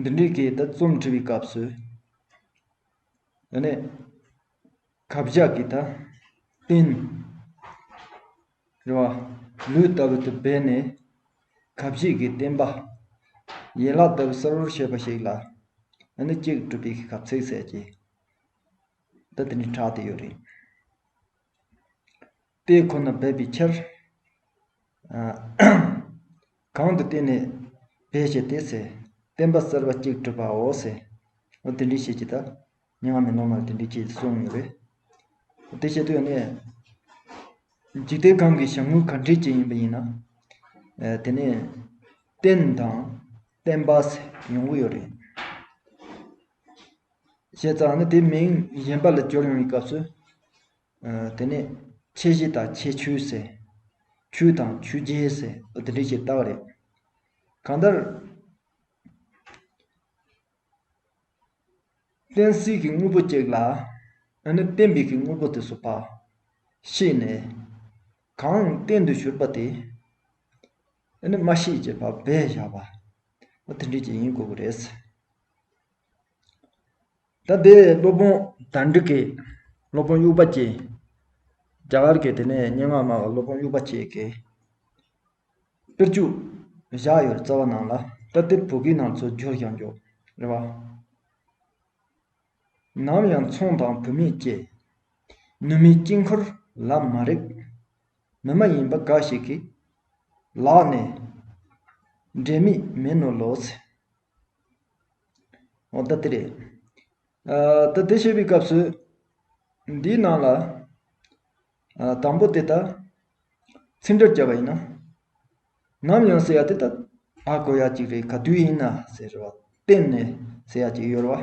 འདི་འདྲའི་སྐད་དུ་རྩོམ་འབྲི་བའི་སྐབས་སུ། དེ་ནས་ཁ་བཞག་གི་ད་བསྟན། རེད་བ། ལུས་ལྟ་བུ་དུ་སྦས་ནས། ཁ་བཞེས་ཀྱི་བསྟན་པ། ཡན་ལག་ལྟ་བུ་གསལ་བོར་བཤད་པ་ཞིག་ལ། ཨ་ནི་གཅིག་གྲུབ་པའི་གབ་ཚིག་ཟེར་གྱི། ད་དེ་འདྲའི་གྲགས་དེ་ཡོད་རེད། དཔེ་ཁོ་ན་སྦས་པའི་ཕྱིར། གང་དུ་བསྟན་ནས་སྦས་བྱས་ཏེ། བསྟན་པ་གསར་པ་གཅིག་གྲུབ་པའོ། དེ་འདྲའི་ཤེས་བྱེད་དག། མྱ་ངན་མེད་ནོར་མ་ལ་དེ་འདྲའི་ཁྱེད་ཀྱིས་གསུངས་ཡོད་པས། དེ་བྱེད་དུ་ཡོད་ནས། འཇིག་རྟེན་གང་གི་བྱ་དངོས་ག་འདྲའི་ཅན་ཡིན་པ་ཡིན་ན། དེ་ནི། བསྟན་དང། བསྟན་པ། ཡོང་གི་ཡོད་རེད། བྱས་ཙང་ནི་དེ་མིང་གཞན་པ་ལ་སྦྱོར་ཡོང་བའི་སྐབས་སུ། དེ་ནས་ཁྱད་གཞི་དང་ཁྱད་ཆོས་ཟེར། ཆོས་དང་ཆོས་རྗེ་ཟེར་འདི་འདྲ་ཞིག་བཏགས་རེད། གང་ལྟར། བསྟན་སྲིད་ཀྱི་དངོས་པོ་གཅིག་ལ། ཨ་ནི་བསྟན་པའི་གི་དངོས་པོ་དེ་སུ་བ། ཤེས་ནས། གང་བསྟན་དུ་གྱུར་པ་དེ། ཨ་ནི་མ་ཤེས་ཀྱི་བ་བས་བཞག་པ། དེ་འདྲ་ཞིག་ཡིན་དགོས་པ་རེད། ད་དེ་སློབ་དཔོན་དར་འགྲི་ཀས། སློབ་དཔོན་དབྱུག་པ་ཀྱེ། རྒྱ་གར་གྱི་དེ་ནས་སྙན་ངག་སྨྲ་བ་སློབ་དཔོན་དབྱུག་པ་ཀྱེ་ཀས། དཔེར་བཅུ་བཞག་ཡོད་རྩ་བ་ནང་ལ། ད་དེ་བོད་སྐད་ནང་ཚུར་བསྒྱུར་ཀྱང་འགྱོགས། རེ་བ། ནམ་ཡང་མཚུངས་དང་བུད་མེད་ཀྱེ། ནུ་མའི་དཀྱིལ་འཁོར་ལ་མ་རེག། མི་མ་ཡིན་པ་འགའ་ཞིག་གིས། ལག་ནས། འབྲས་མེད་མིན་ནོ་ལོ་ཚེ། འོ་ད་དེ་རེད། ད་དེ་བཤད་པའི་སྐབས་སུ། འདིའི་ནང་ལ། དང་པོ་དེ་ལྟར། ཚིག་འགྲེལ་བྱ་བ་ཡིན་ན། ནམ་ཡང་ཟེར་ཡ་དེ་ལྟར་ཨ་གོ་ཡ་གཅིག་རེད་ག་དུས་ཡིན་ན་ཟེར་བ་གཏན་ནས་ཟེར་ཡ་གཅིག་ཡོད་རེད་བ།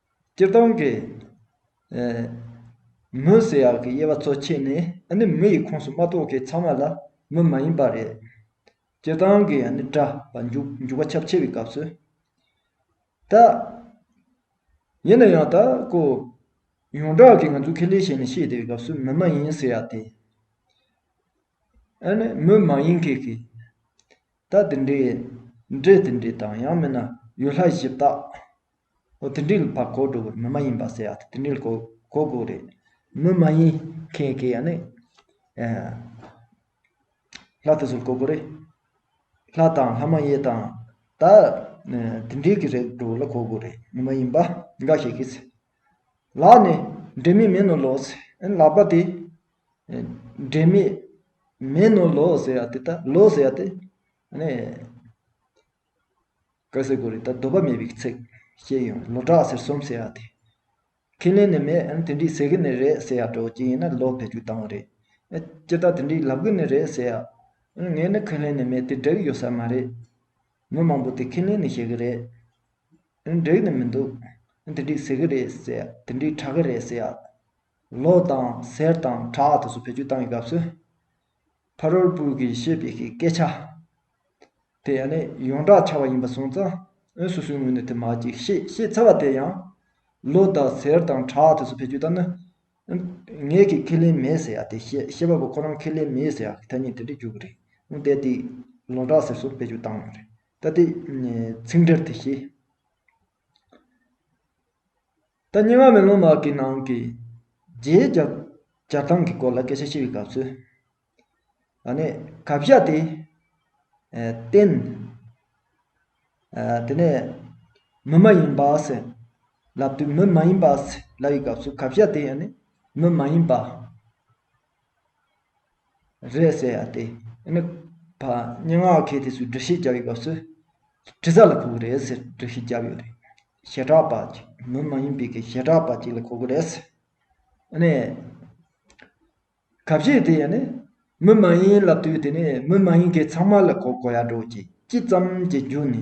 སྤྱིར་བཏང་གི། མུ་ཟེར་ཡག་གི་དབྱེ་བ་གཙོ་ཆེ་ནི་ཨ་ནི་མུ་ཡི་ཁོངས་སུ་མ་གཏོགས་ཀི་ཚང་མ་ལ་མུ་མ་ཡིན་པ་རེད། སྤྱིར་བཏང་གི་ཨ་ནི་སྒྲ་བ་མཇུག་མཇུག་བ་ཁྱབ་ཆེ་བའི་སྐབས་སུ། ད། ཡིན་ན་ཡང་ད་ཀོ། ཡོངས་གྲགས་ཀི་ང་ཚོ་ཁེ་ལས་ཞེས་ནི་ཤེས་བདེ་བའི་སྐབས་སུ་མུ་མ་ཡིན་ཟེར་ཡག་སྟེ། ཨ་ནི་མུ་མ་ཡིན་གི་གི། ད་དེ་འདྲའི། འདྲེ་དེ་འདྲའི་དང་ཡང་མིན་ན་ཡུལ་ལྷ་གཞི་བདག། ཨོ་དེ་འདྲའི་བ་གོ་དགོས་རེད་མི་མ་ཡིན་པ་ཟེར་ཡག་དེ་འདྲའི་གོ་དགོས་རེད། མི་མ་ཡིན་མཁན་གྱི་ཡང་ན། ལྷ་དེ་ཚོར་གོ་དགོས་རེད། ལྷ་དང་ལྷ་མ་ཡིན་དང་ད་དེ་འདྲའི་གི་རེད་འགྲོ་ལ་གོ་དགོས་རེད་མི་མ་ཡིན་པ་འགའ་ཞིག་གིས། ལག་ནས་འབྲས་མེད་མེད་ནོ་ལོ་ཟེར་ཨེ་ལག་པ་དེ་འབྲས་མེད་མེད་ནོ་ལོ་ཟེར་ཡག་དེ་ད་ལོ་ཟེར་ཡག་དེ། ཀ་ཟེར་གོ་རེ་ད་དོགས་པ་མེད་པའི་ཚིག་ཤེས་ཡོང་ལོ་བྲག་ཟེར་གསུམ་ཟེར་ཡག་དེ། ཁས་ལེན་ནི་མེད་ཨང་དེ་འདྲའི་ཟེར་གི་ནི་རེད་ཟེར་ཡག་གྲོགས་གཅིག་ཡིན་ན་ལོ་ཕེབས་རྒྱུ་དང་བོ་རེད། སྤྱིར་བཏང་དེ་འདྲའི་ལབ་གི་ནི་རེད་ཟེར་ཡག། ངས་ནི་ཁས་ལེན་ནི་མེད་དེ་འགྲིག་ཡོད་ས་མ་རེད། མི་མང་པོ་དེ་ཁས་ལེན་ནི་བྱེད་གི་རེད། འགྲིག་ནི་མི་འདུག་དེ་འདྲའི་ཟེར་གི་རེད་ཟེར་ཡག་དེ་འདྲའི་གྲགས་གི་རེད་ཟེར་ཡག། ལོ་དང་ཟེར་དང་གྲགས་དེ་ཚོ་ཕེབས་རྒྱུ་བཏང་བའི་སྐབས་སུ། ཕ་རོལ་པོ་གིས་བཤད་པའི་སྐད་ཆ། དེ་ཡང་ནི་ཡོངས་གྲགས་འཆར་བ་ཡིན་པར་སོང་ཙང་ཨོན་སོ་སོའི་ངོས་ནས་དེ་མ་གཅིག་བཤད་ཤེས་ཚར་བ་དེ་ཡང། ལོ་དང་ཟེར་དང་གྲགས་དེ་ཚོ་བེད་སྤྱོད་བཏབ་ན། ངེད་ཀྱིས་ཁས་ལེན་མེད་ཟེར་ཡ་དེ་ཤེས་པ་པོ་ཁོ་རང་ཁས་ལེན་མེད་ཟེར་ཡ་གི་ཐ་སྙད་དེ་འདྲས་འཇོག་གི་རེད། ཨོན་ཏེ་དེ་ལོ་གྲགས་ཟེར་སོགས་བེད་སྤྱོད་བཏང་ཡོད་རེད། ད་ལྟའི་ཚིག་འགྲེལ་དེ་ཤེས། ད་སྙན་ངག་མེ་ལོང་ལགས་ཀྱི་ནང་གི་རྗེའི་སྦྱར་སྟངས་ཀྱི་སྐོར་ལ་སྐད་ཆ་བཤད་པའི་སྐབས་སུ། ད་ནས་གབ་བཞག་དེ། བསྟན། དེ་ནས། མི་མ་ཡིན་པ། ལབ་དུས་མི་མ་ཡིན་པ། ལབ་པའི་སྐབས་སུ་གབ་བཞག་དེ་ཡང་ནི་མི་མ་ཡིན་པ། རེད་ཟེར་ཡ་སྟེ། ཨ་ནི། ཕ། སྙན་ངག་མཁས་དེ་ཚོས་འབྲི་གཞི་བརྒྱབ་ཡོད་སྐབས་སུ། དྲི་ཟ་ལ་གོ་གི་རེད་ཟེར་འབྲི་གཞི་བརྒྱབ་ཡོད་རེད། ཞེ་དྲག་པ། མི་མ་ཡིན་པའི་གི་ཞེ་དྲག་པ་ཅིག་ལ་གོ་གི་རེད་ཟེར། ཨ་ནི། ག་བཤད་དེ་ཡ་ནི། མི་མ་ཡིན་ལབ་དུས་དེ་ནས་མི་མ་ཡིན་གི་ཚང་མ་ལ་གོ་གོ་ཡ་འགྲོ་ཅིག་ཅི་ཙམ་གྱི་རྒྱུ་ནི།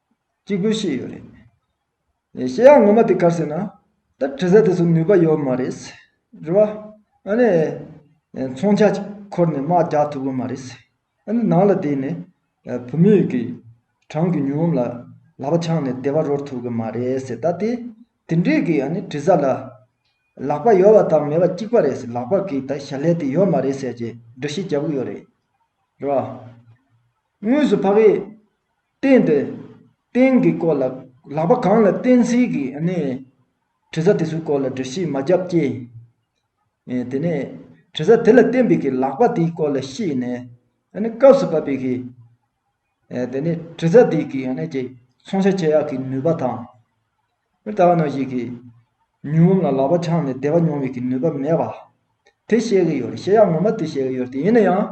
གཅིག་པོའི་ཤེས་ཡོད་རེད། ཤེས་ཡག་ངོ་མ་དེ་གར་ཟེར་ན། ད་དྲི་ཟ་དེ་ཚོ་ནུས་པ་ཡོད་མ་རེད། རེད་བ། ཨ་ནི། མཚོན་ཆ་གཅིག་འཁོར་ནས་དམག་རྒྱག་ཐུབ་པོ་མ་རེད། ཨ་ནི་ནང་ལ་བསྡད་ནས། བོད་མི་ཡུལ་གྱི། གྲངས་ཀྱི་ཉུང་ངོམ་ལ། ལག་པ་འཆང་ནས་བདེ་བ་རོལ་ཐུབ་གི་མ་རེད། ད་དེ། དེ་འདྲས་ཀྱི་ཨ་ནི་དྲི་ཟ་ལ། ལག་པ་ཡོད་བ་དང་མེད་བ་གཅིག་པ་རེད། ལག་པ་གིས་ད་ཞལ་ལས་དེ་ཡོད་མ་རེད་ཟེར་གྱི་འདྲི་ཤེས་རྒྱབ་གི་ཡོད་རེད། རེད་བ། དངོས་སུ་ཕ་གིས། བསྟན་པའི་རྟེན་གྱི་སྐོར་ལ་ལག་པ་གང་ལ་བསྟན་ཚིག་གི་གནས་དྲི་ཟ་དེ་ཚོའི་སྐོར་ལ་འདྲི་ཤེས་མ་རྒྱབ་ཀྱེ། དེ་ནས་དྲི་ཟ་དེ་ལ་བསྟན་པའི་གི་ལག་པ་དེའི་སྐོར་ལ་ཤེས་ནས་སྐབས་སུ་བབ་པའི་གི། དེ་ནས་དྲི་ཟ་དེའི་གི་ནས་ཀྱི་ཚོང་བྱ་ཁྱེད་ཡག་གི་ནུས་པ་དང། མི་ལྟ་བ་ན་ཞིག་གིས། ཉུང་ངུ་ལ་ལག་པ་འཆང་ནས་བདེ་བ་མྱོང་བའི་ཀྱི་ནུས་པ་མེད་པ། དེ་བཤད་ཀྱི་ཡོད་རེད་བཤད་ཡག་ངོ་མ་དེ་བཤད་ཀྱི་ཡོད་རེད་ཡིན་ན་ཡང།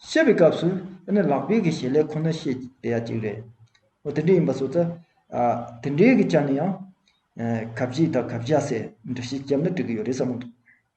བཤད་པའི་སྐབས་སུ་ཨ་ནི་ལག་པའི་ཀྱི་ཞེས་ལས་ཁོ་ན་བཤད་བདེ་ཡག་ཅིག་རེད། འོ་དེ་འདྲས་ཡིན་པ་སོགས་ཚ། དེ་འདྲའི་ཀྱི་ཆ་ནས་ཡང། གབ་བྱེད་དང་གབ་བྱ་སེ་འདྲ་བཤད་རྒྱབ་ན་འགྲིག་གི་ཡོད་རེད་བསམ་གྱི་འདུག།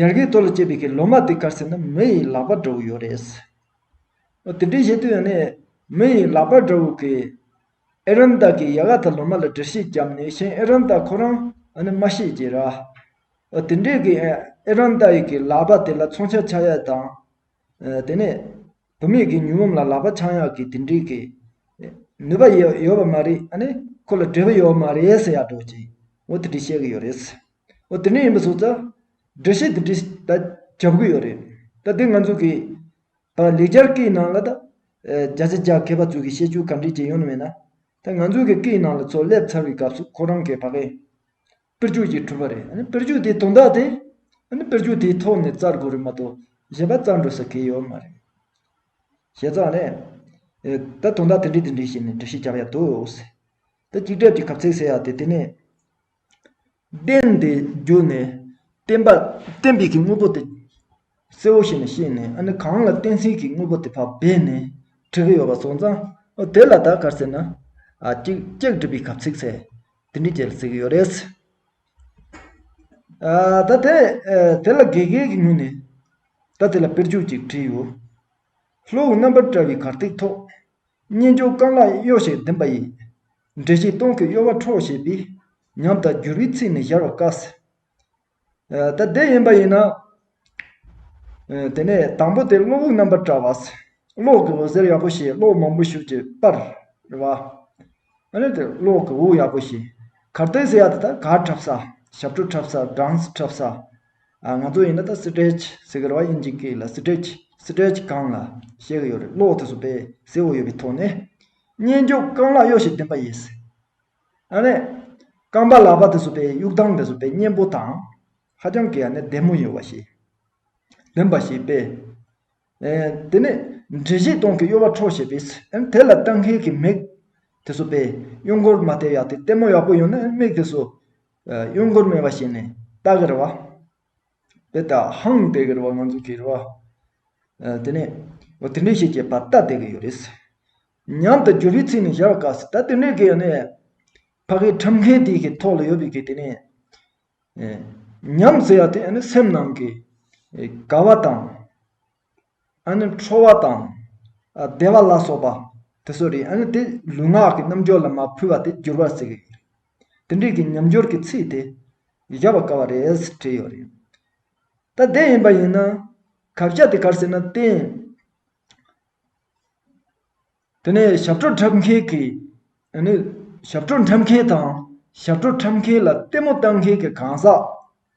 ཡར་གའི་ཐོག་ལ་སྐྱེས་པའི་ལོ་མ་དེ་བཀར་ཟིན་ན་མི་ཡི་ལག་པ་འདྲ་བོ་ཡོད་རེད། དེ་འདྲའི་བྱེད་དུས་ཡང་ནི་མི་ཡི་ལག་པ་འདྲ་བོ་གིས་ཨེ་རམ་དག་གི་ཡ་ག་དང་ལོ་མ་ལ་འདྲི་ཤེས་བརྒྱབ་ནས་གཞན་ཨེ་རམ་དག་ཁོ་རང་ནི་མ་ཤེས་ཀྱི་ར། དེ་འདྲས་ཀྱི་ཨེ་རམ་དག་ཡི་གི་ལག་པ་དེ་ལ་མཚོན་ཆ་ཆག་ཡག་དང། དེ་ནས་བུད་མེད་ཀྱི་མྱུར་བུམ་ལ་ལག་པ་འཆང་ཡག་གི་དེ་འདྲས་ཀྱི་ནུས་པ་ཡོད་པ་མ་རེད་ཨ་ནི་ཁོ་ལ་འབྲས་བུ་ཡོད་པ་མ་རེད་ཟེར་ཡག་འགྲོ་ཅིག་འོ་དེ་འདྲས་བཤད་ཀྱི་ཡོད་རེད། འོ་དེ་འདྲ་ཡིན་པ་བཟོ་ཙང། འགྲེལ་བཤད་འདི་འདྲས་ད་བྱ་དགོས་ཡོད་རེད། ད་དེ་ང་ཚོ་གིས། ད་ལེགས་སྦྱར་སྐད་ཡིག་ནང་ལ་ད། བརྒྱ་ཆ་བརྒྱ་མཁས་པ་ཚོས་གིས་བཤད་ཆོས་ག་འདྲས་ཀྱི་ཡོད་ནི་མེད་ན། ད་ང་ཚོ་གིས་སྐད་ཡིག་ནང་ལ་ཚོགས་སླེབས་ཚར་བའི་སྐབས་སུ་ཁོ་རང་གིས་བ་ཀའི། དཔེར་བརྗོད་ཅིག་གྲུབ་པ་རེད་ཨ་ནི་དཔེར་བརྗོད་དེའི་དོན་དག་དེ། ཨ་ནི་དཔེར་བརྗོད་དེའི་ཐོག་ནས་བཙལ་དགོས་རེད་མ་གཏོགས་གཞན་པ་བཙལ་འགྲོ་ས་གལ་ཡོད་མ་རེད། བྱས་ཙང་ནི། ད་དོན་དག་དེ་འདྲས་དེ་འདྲས་ཞེས་ནས་འགྲེལ་བཤད་རྒྱག་ཡ་ཐུག། ད་གཅིག་གྲབས་ཀྱི་གབ་ཚིག་ཟེར་ཡ་དེ་དེ་ནི། བསྟན་པའི་རྒྱུ་ནི་བསྟན་པ་བསྟན་པའི་དངོས་པོ་དེ་གསལ་བོ་ཞིག་ནས་ཤེས་ནས་ཨ་ནི་གང་ལ་བསྟན་ཟིན་གྱི་དངོས་པོ་དེ་བག་སྦས་ནས་བྲི་གི་ཡོད་པ་སོང་ཙང་དེ་ལ་བདག་གར་ཟེར་ན་ཅིག་ཅེས་བྲིས་པའི་གབ་ཚིག་ཚེ་འདི་འདྲའི་རྒྱལ་ལ་ཟེར་གྱི་ཡོད་རེད། ད་དེ་དེ་ལ་དགེ་རྒན་གྱི་ངོས་ནས་ད་དེ་ལ་དཔེར་བརྗོད་ཅིག་བྲིས་ཡོད། ལྷོའི་རྣམ་པར་བཀྲ་བའི་གར་སྟེགས་ཐོག། གཉེན་ཆུང་རྐང་ལག་གཡོ་ཞིང་ལྡིང་བ་ཡི། འདྲེ་ཞིག་སྟོང་གི་གཡོ་བ་འཕྲོག་བྱེད་པའི། ཉམས་དང་འགྱུར་བའི་ཚིག་ནི་གཞར་བར་དཀའ། ད་བདེ་ཡིན་པ་ཡིན་ན། དེ་ནས་དང་པོ་དེ་གློ་བུར་རྣམ་པར་བཀྲ་བ། གློག་གི་འོད་ཟེར་ཡག་པོ་ཞེས་གློག་མང་པོ་ཞུགས་ཀྱི་པར་བ། གློག་གི་འོད་ཡག་པོ་ཞེས། གར་སྟོན་ཟེར་ཡག་དེ་དག་གར་འཁྲབ་ས། ཞབས་བྲོ་འཁྲབ་ས་སྦྲང་འཁྲབ་ས། ང་ཚོ་ཡིན་ན་ད Stretch ཟེར་གི་རེད་བ་དབྱིན་ཇིག་གིས་ལ Stretch Stretch གང་ལ་བཤད་གི་ཡོད་རེད་གློག་དེ་ཚོ་པས་ཟེའུ་ཡོད་པའི་ཐོག་ནས། སྙན་རྒྱུད་རྐང་ལག་གཡོ་ཞིང་བསྟན་པ་ཡིས། ཨ་ནེ། རྐང་པ་ལག་པ་དེ་ཚོ་པའི་དབྱུག་ཐང་དེ་ཚོ་པའི་སྙན་པོ་དང། ཧ་ཅང་གི་ཨ་ནེ་བདེ་མོ་ཡིན་བ་ཞིག། ལེན་པ་ཞིག་པས། དེ་ནས། འབྲི་བཞི་སྟོང་གི་གཡོ་བ་འཕྲོག་བྱེད་པས། དེ་ལ་ལྟ་མཁན་གྱི་མིག། དེ་ཚོ་པའི་གཡོ་མགོར་མ་བལྟས་ཡག་དེ་ལྟད་མོ་ཡག་པོ་ཡོང་ན་མིག་དེ་ཚོ། གཡོ་མགོར་མེད་པ་བྱས་ནས་ལྟ་གི་རེད་བ། དེ་ལྟ་ཧང་དེ་གི་རུ་བ་ང་ཚོ་གི་རུ་བ་དེ་ནས་ཨོ་དེ་འདྲས་ཤེས་ཀྱི་བར་ལྟ་དེ་གི་ཡོད་རེད། མཉམ་དུ་འགྱུར་བའི་ཚིག་ནི་བཞག་དཀའ་སྲིད་ད་དེ་འདྲས་གི་ཡོད་ནས། ཕ་གི་ཁྲིམས་འགལ་དེ་གི་ཐོག་ལ་ཡོད་པའི་གི་དེ་ནས། ཉམས་ཟེར་བ་དེ་ཡང་ནི་སེམས་ནང་གི་དགའ་བ་དང། ཨ་ནི་ཁྲོ་བ་དང། བདེ་བ་ལ་སོགས་པ། དེ་སོགས་རེད་ཨ་ནི་དེ་ལུས་ངག་གི་རྣམ་འབྱོར་ལ་མ་ཕུལ་བ་དེ་འགྱུར་བར་བརྩི་གི་ཡོད། དེ་འདྲིས་ཀྱི་ཉམས་འགྱུར་གྱི་ཚིག་དེ། བཞག་པ་དཀའ་བ་རེད་ཟེར་བྲིས་ཡོད་རེད། ད་བདེ་ཡིན་པ་ཡིན་ན། གབ་བྱ་དེ་གར་ཟེར་ན་བརྟེན། དེ་ནས་ཞབས་བྲོ་འཁྲབ་མཁན་གྱིས། ཨ་ནི་ཞབས་བྲོ་འཁྲབ་མཁན་དང། ཞབས་བྲོ་འཁྲབ་མཁན་ལ་ལྟད་མོ་བལྟ་མཁན་གྱི་གང་ཟག།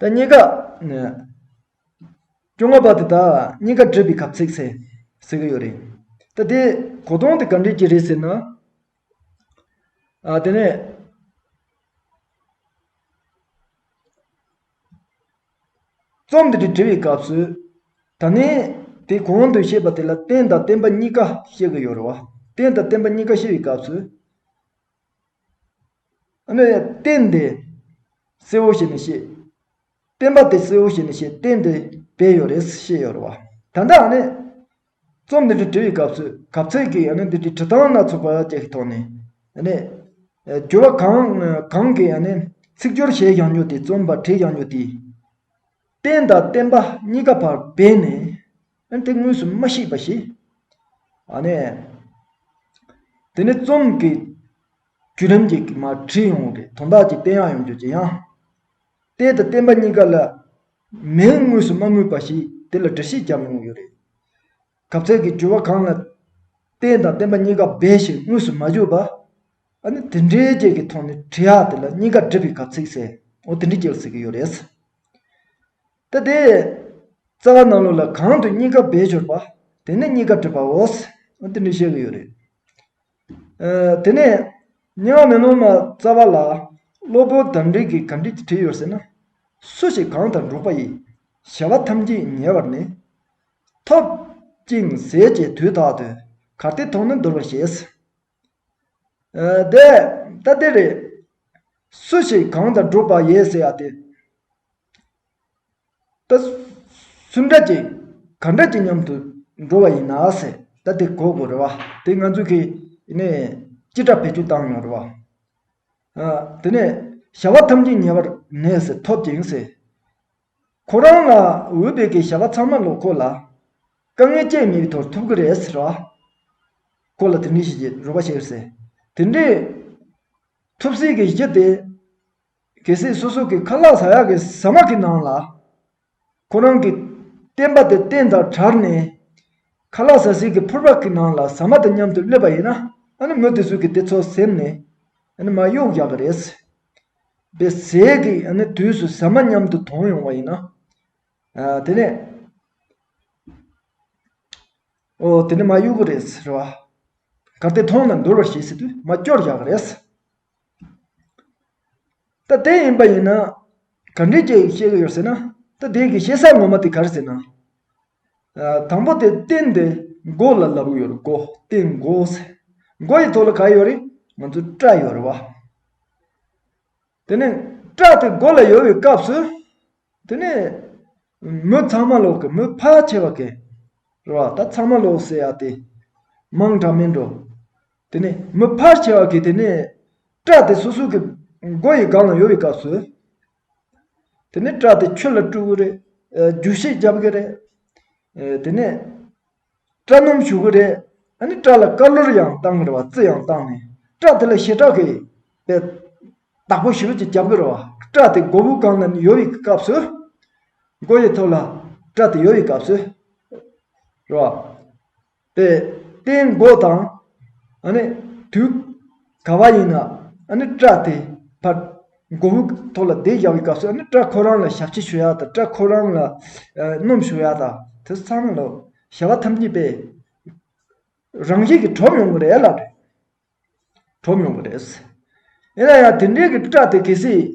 ད་གཉིས་ཀ། སྐྱོ་ང་པ་དེ་དག་གཉིས་ཀ་བྲིས་པའི་གབ་ཚིག་ཟེར་ཟེར་གྱི་ཡོད་རེད། ད་དེའི་གོ་དོན་དེ་ག་འདྲས་ཀྱི་རེད་ཟེར་ན། དེ་ནས། རྩོམ་འདི་འདྲ་འབྲི་བའི་སྐབས་སུ། ད་ནི་དེ་གོང་དུ་བཤད་པ་དེ་ལ་རྟེན་དང་བརྟེན་པ་གཉིས་ཀ་བཤད་ཀྱི་ཡོད་རེད་བ། རྟེན་དང་བརྟེན་པ་གཉིས་ཀ་བཤད་པའི་སྐབས་སུ། རྟེན་འདི་གསལ་བོ་ཞིག་ནས་བཤད། རྟེན་པ་དེ་གསལ་བོ་ཞིག་ནས་བཤད་རྟེན་འདི་བས་ཡོད་རེད་བཤད་ཡོད་རེད་བ། ད་ལྟ་ཡང་ནི། རྩོམ་འདི་འདྲ་བྲི་བའི་སྐབས་སུ་གབ་ཚིག་གིས་ཡང་ནི་འདི་འདྲའི་བྲི་སྟངས་སྣ་ཚོགས་པ་བཅས་ཀྱི་ཐོག་ནས། ཡང་ནི། སྦྱོར་བ་གང་གང་གིས་ཡང་ནི་ཚིག་སྦྱོར་བྱས་ཀྱང་ཉོ་སྟེ་རྩོམ་པར་བྲིས་ཀྱང་ཉོ་སྟེ། རྟེན་དང་བརྟེན་པ་གཉིས་ཀ་བར་སྦས་ནས། ཨ་འདི་དངོས་སུ་མ་ཤེས་པ་ཞིག། ཨ་ནི། དེ་ནི་རྩོམ་གྱི་བརྒྱུད་རིམ་གྱི་མ་བྲིས་ཡོང་བའི་དོན་དག་ཅིག་བསྟན་ཡང་ཡོང་རྒྱུ་ཇི་ཡང། བལྟས་དང་བསྟན་པ་གཉིས་ཀ་ལ་མིང་དངོས་སུ་མ་སྨོས་པ་ཞིག་དེ་ལ་འདྲི་གཞི་བརྒྱབ་ཡོང་ཡོད་རེད། གབ་ཚད་ཀྱི་འགྱུར་བ་གང་ལ། བལྟས་དང་བསྟན་པ་གཉིས་ཀ་འབའ་ཞིག་དངོས་སུ་མ་བརྗོད་པ། ཨ་ནི་དེ་འདྲའི་རྐྱེན་གྱི་ཐོག་ནས་བྲིས་ཨ་དེ་ལ་གཉིས་ཀ་བསྒྲིབས་པའི་གབ་ཚིག་ཟེར་འོ་དེ་འདྲ་སྐྱེལ་སྲིད་ཀྱི་ཡོད་རེད། ཏི་ཏི། རྩ་བ་སྣ་ལུགས་ལ་གང་དུ་གཉིས་ཀ་སྦས་སྦྱོར་པ། དེ་ནི་གཉིས་ཀ་བསྒྲིབས་པའོ། འདི་འདྲ་བཤད་ཀྱི་ཡོད་རེད། དེ་ནས། རྙིང་མ་མེ་ལོང་མ་རྩ་བ་ལ། སློབ་དཔོན་གདམས་ངག་གི་གམ་བྲིས་ཀྱི་བྲིས་ཡོད་ཟེར་ན། སུ་ཞིག་གང་དང་འགྲོགས་པ་ཡིས། བྱ་བ་ཐམས་ཅད་ཉེ་བར་ནི། ཐོབ། ཅིང་ཟད་ཀྱི་དུས་དག་ཏུ། གར་སྟེགས་ཐོག་ནི་འདོར་བར་བྱེད། དེ་ལྟ་སྟེ། རེ་སུ་ཞིག་གང་དང་བསྒྲུབ་པ་ཡིན་ཟེར་བ་དེ། ད་སུ་འདྲ་ཅིག་ག་འདྲ་ཅིག་མཉམ་དུ་འགྲོ་བ་ཡིན་ན་ཟེར་ད་དེ་གོ་དགོས་རེད་བ། དེ་ང་ཚོས་གིས་ནས་ཅི་འདྲ་བེད་སྤྱོད་བཏང་ཡོང་རེད་བ། དེ་ནས་བྱ་བ་ཐམས་ཅད་ཉེ་བར་གནས་ཟེར་ཐོབ་ཅིང་ཟེར། ཁོ་རང་ལ་འོས་པའི་གི་བྱ་བ་ཚང་མ་ལོག་ཁོ་ལ་དཀའ་ངལ་སྐྱེད་མི་ཐོར་ཐུབ་གི་རེད་ཟེར་བ། ཁོ་ལ་དེ་འདྲའི་གཞི་རོ་པ་ཞིག་ཟེར། དེ་འདྲའི་ཐུབ་སྲིད་གི་གཞི་དེ་གལ་སྲིད་སོ་སོ་གི་ཁ་ལག་ཟ་ཡག་གི་ཟ་མ་གི་ནང་ལ་ཁོ་རང་གི་བསྟན་པ་དེ་བསྟན་དང་གྲར་ནས་ཁ་ལག་ཟ་སྲིད་གི་ཕོར་པ་གི་ནང་ལ་ཟ་མ་དང་མཉམ་དུ་སླེབས་པ་ཡིན་ན་ཨ་ནི་མི་དེ་ཚོས་གི་དེ་ཚོ་སེམས་ནས་ཨ་ནི་མ་གཡོག་ཡག་གི་རེད་ཟེར། པའི་ཟས་ཀྱི་དུས་སུ་ཟ་མ་མཉམ་དུ་དོང་ཡོང་བ་ཡིན་ནོ། དེ་ནས། ཨོ། དེ་ནི་མ་གཡོས་གུ་རེད། རེད་བ། གར་དེ་མཐོང་ནས་འདོར་བར་བྱེད་སྲིད་དུས་མ་སྐྱོར་བཞག་གི་རེད། ད་དེ་ཡིན་པ་ཡིན་ན། གར་འདྲི་བྱེད་ཀྱི་ཡོད་ཟེར་ན། ད་དེའི་གཞི་ས་ངོ་མ་དེ་གར་ཟེར་ན། དང་པོ་དེ་རྟེན་འདི་མགོ་ལ་ལབ་ཡོད་མགོ་རྟེན་མགོ་ཟེར། མགོ་ཡི་ཐོག་ལ་ག་ཡོད་རེད་ང་ཚོའི་སྐྲ་ཡོད་རེད་བ། དེ་ནས་སྐྲ་དེ་མགོ་ལ་ཡོད་པའི་སྐབས་སུ། དེ་ནས་མི་ཚང་མ་ལོག་གི་མི་ཕལ་ཆེ་བ་གི་རེད་བ་ད་ཚང་མ་ལོག་ཟེར་ཡ་དེ་མང་དྲག་མིན་འགྲོ། དེ་ནས་མི་ཕལ་ཆེ་བ་གི་དེ་ནས་སྐྲ་དེ་སོ་སོ་གི་མགོ་ཡི་སྒང་ལ་ཡོད་པའི་སྐབས་སུ། དེ་ནས་སྐྲ་དེ་ཁྱོད་ལ་བཀྲུ་གི་རེད། རྒྱུག་ཤེད་རྒྱབ་གི་རེད། དེ་ནས། སྐྲ་སྣུམ་བྱུག་གི་རེད། ཨ་ནི་སྐྲ་ལ་དཀར་བླུར་ཡང་བཏང་གི་རེད་བ་རྩི་ཡང་བཏང་ནས། སྐྲ་དེ་ལ་ཞེ་དྲག་གི། པའི། བདག་པོ་ཞིག་རུ་ཅིག་རྒྱབ་གི་རེད་བ། སྐྲ་དེ་མགོ་བོའི་སྒང་ལ་ནི་ཡོལ་བའི་སྐབས་སུ། མགོ་ཡི་ཐོག་ལ། སྐྲ་དེ་ཡོལ་བའི་སྐབས་སུ། རེད་བ། པའི་རྟེན་མགོ་དང། དུས་ག་བ་ཡིན་ན་སྐྲ་དེ་བར་མགོ་བོའི་ཐོག་ལ་བརྡེག་བཞག་པའི་སྐབས་སུ་སྐྲ་ཁོ་རང་ལ་ཞབས་ཕྱི་ཞུ་བ་དང་སྐྲ་ཁོ་རང་ལ་སྣོམ་ཞུ་བ་དང་དེ་ཚང་མ་ལ་བྱ་བ་ཐམས་ཅད་པས་རང་བཞིན་གྱིས་གྲུབ་ཡོང་གི་རེད་ལ། གྲོངས་ཡོང་གི་རེད། ཡིན་ན་ཡང་དེ་འདྲའི་གི་སྐྲ་དེ་གལ་སྲིད།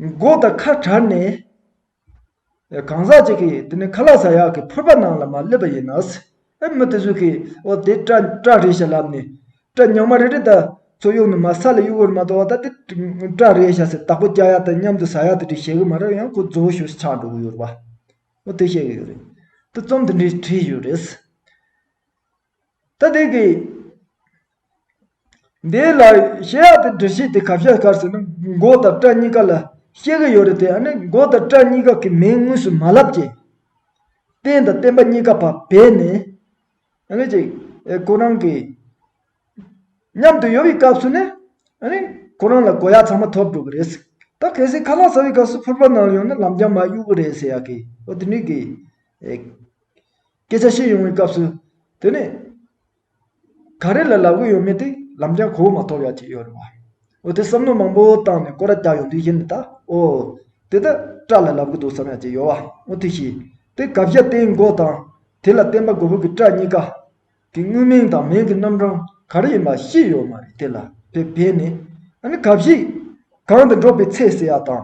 མགོ་དང་ཁ་བྲལ་ནས། གང་ཟག་ཅིག་གིས་དེ་ནི་ཁ་ལག་ཟ་ཡག་གི་ཕོར་པ་ནང་ལ་མ་སླེབས་པ་ཡིན་ན། ཨེ་མི་དེ་ཚོས་གི་འོ་དེ་སྐྲ་སྐྲ་རེད་ཞེས་ལབ་ནས། སྐྲ་ཉག་མ་རེ་རེ་ད་ཚོ་གཡུག་ནས་མ་ས་ལ་གཡུག་འོ་རེ་མ་གཏོགས་ད་དེ་སྐྲ་རེད་ཤ་ཟེར་བདག་པོ་སྐྱ་ཡག་དང་མཉམ་དུ་ཟ་ཡག་དེ་འདྲས་བྱེད་གི་མ་རེད་ཡང་ཁོ་རྫུ་བོ་ཞོ་ཞིག་ཆགས་འགྲོ་གི་ཡོད་རེད་པ། ཨོ་དེ་བཤད་གི་ཡོད་རེད། དེ་རྩོམ་དེ་འདྲས་བྲིས་ཡོད་རེད། ད་ཐེངས་ཀྱི་འདིའི་ལ་གཞས་ཡག་དེ་འབྲི་ཤེས་དེ་ག་བཤད་གར་ཟེར་ན་མགོ་དང་སྐྲ་གཉིས་ཀ་ལ་ཤེས་ཀྱི་ཡོད་རེད་དེ་ཨ་ནི་མགོ་དང་སྐྲ་གཉིས་ཀ་གི་མིང་དངོས་སུ་མ་ལབ་ཀྱི། བསྟན་དང་བསྟན་པ་གཉིས་ཀ་བ་བས་ནི་ཨ་ནི་ཅིག་ཁོ་རང་གི་མཉམ་དུ་ཡོད་པའི་སྐབས་སུ་ནི་ཨ་ནི་ཁོ་རང་ལ་དགོ་ཡག་ཚང་མ་ཐོབ་འགྲོ་གི་རེད་ཟེར་ད་གལ་སྲིད་ཁ་ལག་ཟ་བའི་སྐབས་སུ་ཕུར་པ་ནང་ལ་ཡོང་ན་ལམ་རྒྱགས་མ་གཡུག་གི་རེད་ཟེར་ཡག་གི་ཨོ་དེ་ནུས་ཀྱི། སྐད་ཆ་བཤད་ཡོང་བའི་སྐབས་སུ། དེ་ནི། ག་རེ་ལ་ལབ་གི་ཡོད་མེད་དེ་ལམ་རྐྱང་གོ་བོ་མ་ཐོབ་ཡག་ཅིག་ཡོད་རེད་བ། འོ་དེ་བསམ་བློ་མང་པོ་བཏང་ནས་ཀོ་ར་རྒྱག་ཡོང་དུས་ཤེས་ནི་ད་ཨོ། དེ་ད་སྐྲ་ལ་ལབ་གི་འདུག་བསམ་ཡག་ཅིག་ཡོད་བ་འོ་དེ་ཤི། དེ་དགའ་བཞའ་སྟེང་མགོ་དང། དེ་ལ་བརྟེན་པ་མགོ་བོ་གི་སྐྲ་གཉིས་ཀ། གི་དངོས་མིང་དང་མིང་གི་རྣམ་གྲངས་ག་རེ་ཡིན་པ་ཤེས་ཡོད་མ་རེད་དེ་ལ་བེ་བེ་ནི། ཨ་ནི་གབ་གཤིས། གང་དུ་འགྲོ་བའི་ཚེ་ཟེར་ཡག་དང།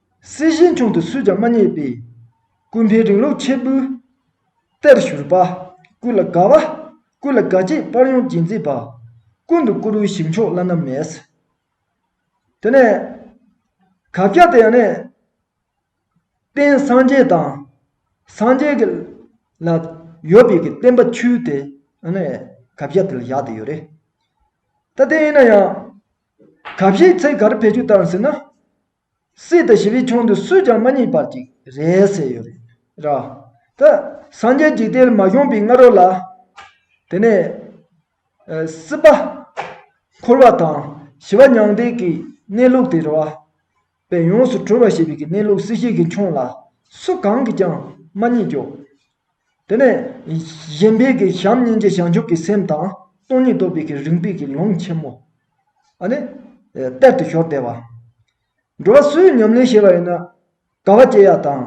སྲིད་ཞིའི་དྲུང་དུ་སུས་ཀྱང་མ་བརྙེས་པའི། ཀུན་ཕན་རིང་ལུགས་ཆེད་འབུལ་གཏེར་བཞུར་པ། ཀུན་ལ་དགའ་བ། ཀུན་ལ་དགའ་སྐྱིད་དཔར་ཡོང་བགྱིད་མཛེས་པ། ཀུན་ཏུ་བཀུར་འོས་ཞིང་མཆོག་བླ་ན་མེད། དེ་ནས། གབ་རྒྱ་དེ་ཡང་ནི། རྟེན་སངས་རྒྱས་དང། སངས་རྒྱས་ཀྱི། ལ་ཡོད་པའི་གི་བསྟན་པ་ཆུའི་དེ། ནི། གབ་རྒྱ་དེ་ལ་བཞག་ཏུ་ཡོད་རེད། ད་དེ་ཡིན་ན་ཡང། གབ་བཞེས་ཚེ་ག་རེ་བེད་སྤྱོད་བཏང་ཟེར་ན། སྲིད་དུ་ཞི་བའི་ཁྱུང་དུ་སུས་ཀྱང་མ་བསྙེགས་པར་གཅིག་རེ་ཟེར་ཡོད་རེད། ར། ད། སངས་རྒྱས་འཇིག་རྟེན་མ་བྱུང་པའི་སྔ་རོལ་ལ། དེ་ནས། སྲིད་པ། འཁོར་བ་དང་ཞི་བ་མྱང་འདས་ཀྱི་གནས་ལུགས་དེ་ར། བས་ཡོངས་སུ་གྲོལ་བ་ཞེས་པའི་གནས་ལུགས་སྲིད་ཞིའི་ཁྱུང་ལ་སུ་གང་གིས་ཀྱང་མ་བསྙེགས་ཀྱོ། དེ་ནས་གཞན་ཕན་གྱི་བྱམས་སྙིང་རྗེ་བྱང་ཆུབ་ཀྱི་སེམས་དང་སྟོང་ཉིད་རྟོགས་པའི་གྱི་རིག་པའི་གྱི་ལུང་ཆེན་མོ། ཨ་ནི། གཏེར་དུ་ཤོར་བདེ་བ། འགྲོ་བ་སུའི་ཉམས་ལེན་བྱེད་པ་ཡིན་ན། དགའ་བ་སྐྱེ་ཡག་དང།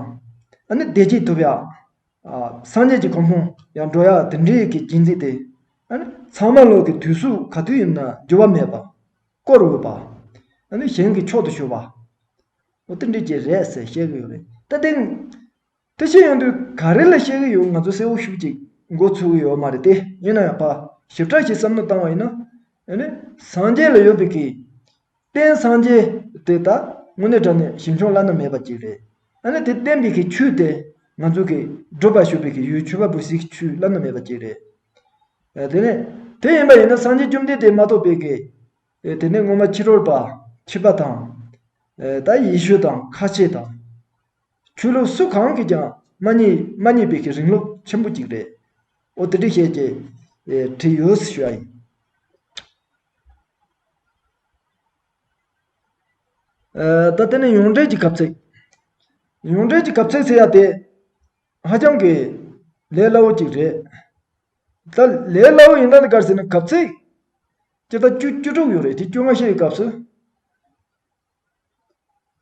ཨ་ནི་བདེ་སྐྱིད་ཐོབ་ཡག། སངས་རྒྱས་ཀྱི་གོ་འཕང་ཡང་འགྲོ་ཡག་དེ་འདྲའི་གྱི་རྒྱན་འཛིན་ཏེ། ཨ་ནི། ཚང་མ་ལོག་གི་དུས་སུ་ག་དུས་ཡིན་ན་འགྱུར་བ་མེད་པ། བསྐོར་འོས་པ། ཨ་ནི་གཞན་གྱི་མཆོག་ཏུ་གྱུར་པ། འོ་དེ་འདྲའི་གྱི་རེད་ཟེར་བཤད་གི་ཡོད་རེད། ད་དེང། དེ་ཕྱིར་ཡོང་དུས་ག་རེ་ལ་བཤད་གི་ཡོད་ང་ཚོ་གསལ་བོ་ཤུགས་གཅིག་མགོ་ཚོས་གི་ཡོད་མ་རེད་དེ་ཡིན་ན་ཡང་བག་ཞིབ་ཕྲ་ཞིག་བསམ་མནོ་བཏང་བ་ཡིན་ན། སངས་རྒྱས་ལ་ཡོད་པའི་གི། རྟེན་སངས་རྒྱས་དེ་ད་དངོས་གནས་དྲ་ནས་ཞིབ་འཇོག་བླ་ན་མེད་པ་ཅིག་རེད། དེ་བསྟན་པའི་གི་ཆུ་དེ་ང་ཚོ་གི་བགྲོད་པར་ཞུགས་པའི་གི་ཡུལ་ཆུ་བ་བུ་སིག་ཆུ་བླ་ན་མེད་པ་ཅིག་རེད། དེ་ནས་དེ་ཡིན་པ་ཡིན་ན་སངས་རྒྱས་བཅོམ་ལྡན་འདས་མ་ཐོབ་པའི་གི། དེ་ནས་སྔོན་མ་ཕྱི་རོལ་པ་ཁྱི་པ་དང། ད་ཡེ་ཤུ་དང་ཁ་ཆེ་དང། ཆོས་ལུགས་སུ་གང་གིས་ཀྱང་མ་རྙེད་པའི་གི་རིང་ལུགས་ཆེན་པོ་གཅིག་རེད། ཨོ་དེ་འདྲི་ཤེས་ཀྱི་དྲི་ཡོད་ཞུ་བ་ཡིན། ད་དེ་ནས་ཡོངས་འགྲེལ་གྱི་གབ་ཚིག། ཡོངས་འགྲེལ་གྱི་གབ་ཚིག་ཟེར་ཡ་དེ་ཧ་ཅང་གི་ལས་སླ་བོ་ཅིག་རེད། ད་ལས་སླ་བོ་ཡིན་ན་ག་རེ་ཟེར་ན་གབ་ཚིག་སྤྱི་ཟླ་བཅུ་བཅུ་དྲུག་ཡོད་རེད་དེ་བཅོ་ལྔ་ཤས་ཡོད་སྐབས་སུ།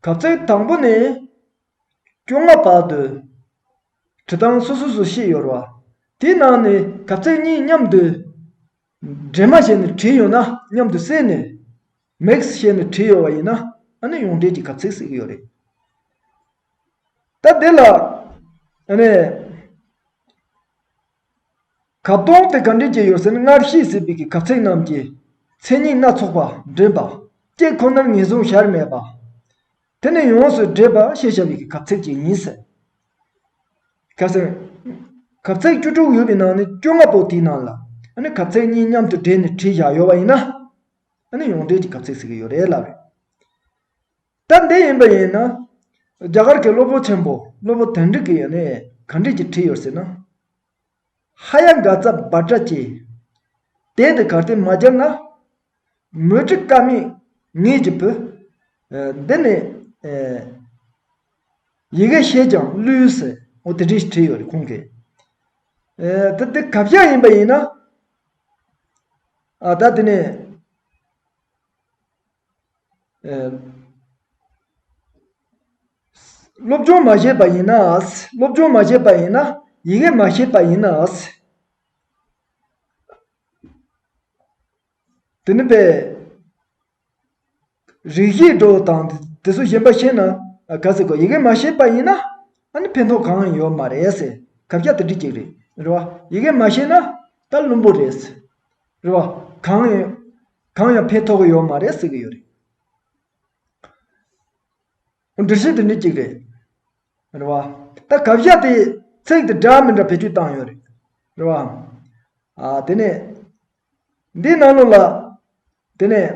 གབ་ཚིག་དང་པོ་ནས་བཅོ་ལྔ་བར་དུ་དྲི་གདངས་སོ་སོ་སུ་ཤེས་ཡོར་བ། དེའི་ནང་ནས་གབ་ཚིག་གཉིས་མཉམ་དུ་འདྲེས་མ་བྱས་ནས་དྲི་ཡོད་ན་མཉམ་དུ་བསྲེས་ནས mix བྱས་ནས་དྲི་ཡོད་བ་ཡིན་ན་ཨ་ནི་ཡོངས་འདྲེས་ཀྱི་གབ་ཚིག་ཟེར་གྱི་ཡོད་རེད། ད་དེ་ལ་ཨ་ནི། གབ་སྟོང་སྟེ་གབ་འདྲེན་གྱི་ཡོ་ཟན་སྔར་ཤེས་ཟིན་པའི་གབ་ཚིག་རྣམས་ཀྱི་མཚན་ཉིད་སྣ་ཚོགས་པ་འདྲེན་པ་སྐྱེ་ཁོ་ནར་ངེས་བཟུང་བྱར་མེད་པ། དེ་ནི་ཡོངས་སུ་འདྲེས་པ་ཞེས་བྱ་བའི་གབ་ཚིག་ཅིག་ཡིན། གབ་ཚིག་བཅུ་དྲུག་ཡོད་པའི་ནང་ནས་བཅོ་ལྔ་པོ་དེའི་ནང་ལ་གབ་ཚིག་གཉིས་མཉམ་དུ་སྦྲེལ་ནས་བྲིས་བཞག་ཡོད་པ་ཡིན་ན། ཡོངས་འདྲེས་ཀྱི་གབ་ཚིག་ཟེར་གྱི་ཡོད་རེད་ལབ་རེད། ད་འདི་ཡིན་པ་ཡིན་ན། རྒྱ་གར་གྱི་སློབ་དཔོན་ཆེན་པོ་སློབ་དཔོན་དོན་འགྲུབ་ཀྱིས་གབ་འདྲེས་ཀྱི་བྲིས་ཡོད་ཟེར་ན། ཧ་ཡ་འགའ་རྩ་སྦར་སྐྲ་སྐྱེ། དེ་འདི་གར་དེ་མ་བསྒྱུར་ན། མོས་དྲི་དཀར་མིག་ངེས་ཀྱི་བུ། འདི་ནི། ཡི་གེ་ཤེས་ཀྱང་བསླུའི་ཟེར། འོ་དེ་འདྲའི་བྲིས་ཡོད་རེད་ཁོང་གིས། ད་འདི་གབ་ཤ་ཡིན་པ་ཡིན་ན། ད་འདི་ནི། སློབ་སྦྱོང་མ་བྱས་པ་ཡིན་ན་སློབ་སྦྱོང་མ་བྱས་པ་ཡིན་ན་ཡི་གེ་མ་ཤེས་པ་ཡིན་ན། དེ་ནི་པའི་རིགས་ཤེས་འགྲོ་བ་དང་དེ་ཚོ་གཞན་པ་ཤེས་ན་ག་ཟེ་དགོས་ཡི་གེ་མ་ཤེས་པ་ཡིན་ན་ཨ་ནི་ཕན་ཐོགས་གང་ཡོད་མ་རེད་ཟེ་ག་བྱ་དེ་འདྲི་ཅིག་རེད་རེད་བ་ཡི་གེ་མ་ཤེས་ན་ད་བླུན་པོ་རེད་ཟེ་རེད་བ་གང་ཡོད་གང་ཡང་ཕན་ཐོགས་ཡོད་མ་རེད་ཟེ་གི་ཡོད་རེད། འདྲི་གཞི་འདི་ནི་གཅིག་རེད། རེད་བ། ད་གབ་ཞབས་པའི་ཚིག་འདི་འདྲ་མི་འདྲ་བེད་སྤྱོད་བཏང་ཡོད་རེད། རེད་བ། ཨ། དེ་ནས། འདིའི་ནང་ལུགས་ལ། དེ་ནས།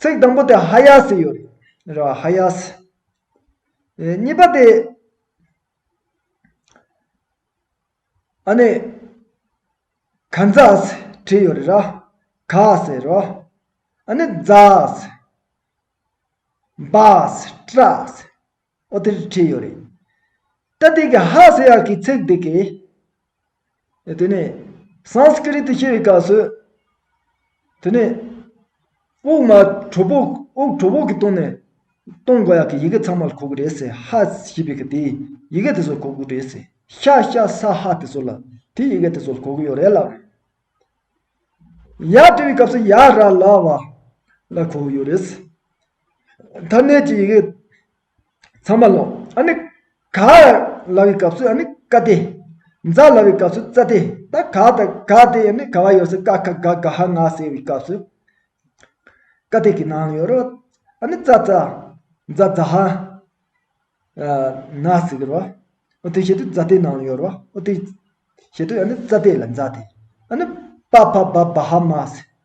ཚིག་དང་པོ་དེ་ཧ་ཡ་སི་ཡོད་རེད། རེད་བ། ཧ་ཡ་སི། གཉིས་པ་དེ། ཨ་ནེ། ག་འཛག་སེ་བྲིས་ཡོད་རེད་ར། ག་ཟེར་རོ། ཨ་ནེ་འཛག་སེ། འབག་སེ་སྐྲག་སེ། ཨོ་དེར་བྲིས་ཡོད་རེད། ད་དེ་གའི་ཧ་ཟེར་ཡག་གི་ཚིག་འདི་གའི། དེ་ནས Sanskrit ཞེས་པའི་སྐབས་སུ། དེ་ནས། དབུགས་མ་དྲོ་བུ། དབུགས་དྲོ་བུ་གི་སྟོང་ནས། སྟོང་གོ་ཡག་གི་ཡི་གེ་ཚང་མ་ལ་གོ་དགོས་རེད་ཟེར་ཧ་ཞེས་པའི་གི་དེའི་ཡི་གེ་དེ་ཚོ་ལ་གོ་དགོས་རེད་ཟེར་ཤ་ཤ་ས་ཧ་དེ་ཚོ་ལ་དེའི་ཡི་གེ་དེ་ཚོ་ལ་གོ་དགོས་ཡོད་རེད་ལབ་རེད། ཡ་དེ་བའི་སྐབས་སུ་ཡ་ར་ལ་བ་ལ་གོ་དགོས་ཡོད་རེད་ཟེར། ཐ་སྙད་ཀྱི་ཡི་གེ། ཚང་མ་ལོག། ཨ་ནི། ག། ལ་བའི་སྐབས་སུ་ཨ་ནི་ཀ་སྟེ། འཛ་ལ་བའི་སྐབས་སུ་ཙ་སྟེ། ད་ག་དང་ག་སྟེ་ཨ་ནི་ག་བ་ཡོད་སྲིད་ཀ་ཁ་ག་ག་ཧ་ང་ཟེར་བའི་སྐབས་སུ། ཀ་སྟེ་གི་ནང་ཡོད་རོ། ཨ་ནི་ཙ་ཙ། འཛ་འཛ་ཧ། ན་ཟེར་གི་རོ། ཨོ་དེའི་ཞེ་དུས་འཛ་སྟེ་ནང་ཡོད་རོ། ཨོ་དེའི། ཞེ་དུས་ཨ་ནི་ཙ་སྟེ་ལ་འཛ་སྟེ། ཨ་ནི། པ་ཕ་བ་བ་ཧ་མ་ཟེར།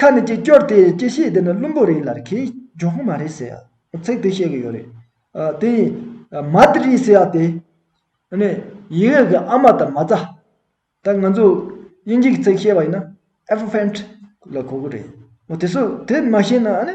ཁ་ནས་ཀྱི་སྐྱོར་དེ་ཀྱི་ཤེས་དེ་ནི་བླུན་པོ་རེད་ལར་ཁེའི་ཇོ་ཧོང་མ་རེད་ཟེར་ཡ་ཚེག་དེ་བཤད་གི་ཡོད་རེད་དེ་ཡིན་མ་དི་རི་ཟེར་ཡ་དེ་ནི་ཡི་ཡོད་གི་ཨ་མ་དང་མ་རྩ་ད་ང་ཚོ་དབྱིན་ཇི་གི་ཚེག་བཤད་པ་ཡིན་ན Elephant ལ་གོ་གི་རེད་དེ་སུ་དེ་མ་ཤེས་ན་ཨ་ནི།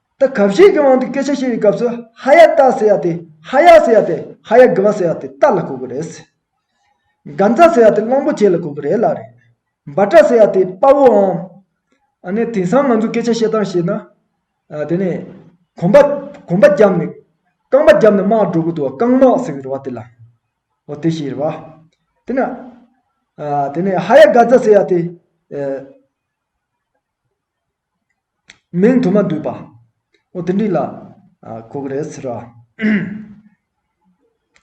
ད་གབ་བྱེད་ཀྱི་དབང་དུ་སྐད་ཆ་བཤད་པའི་སྐབས་སུ་ཧ་ཡ་ཏཱ་ཟེར་ཡ་དེ་ཧ་ཡ་ཟེར་ཡ་དེ་ཧ་ཡ་དགི་བ་ཟེར་བ་དེ་ཏཱ་ལ་གོ་གི་རེད། གང་ཛྭ་ཟེར་བ་དེ་གླང་པོ་ཆེ་ལ་གོ་གི་རེད་ལ་རེད། འབའ་ཀྲ་ཟེར་བ་དེ་དཔའ་བོའམ། ཨ་ནི་དེང་སང་ང་ཚོ་སྐད་ཆ་བཤད་སྟངས་བཤད་ན། དེ་ནས། གོམ་པ། གོམ་པ་བརྒྱབ་ནས། རྐང་པ་བརྒྱབ་ནས་དམག་འགྲོ་གི་འདུག་བ་རྐང་དམག་ཟེར་གི་རེད་བ་དེ་ལ། འོ་དེ་ཞིག་རེད་བ། དེ་ན། དེ་ནས་ཧ་ཡ་དགའ་ཛྭ་ཟེར་བ་དེ། མིང་དུ་མ་བསྡུས་པ། འོ་དེ་འདྲི་ལ། གོ་གི་རེད་ཟེར་རོ།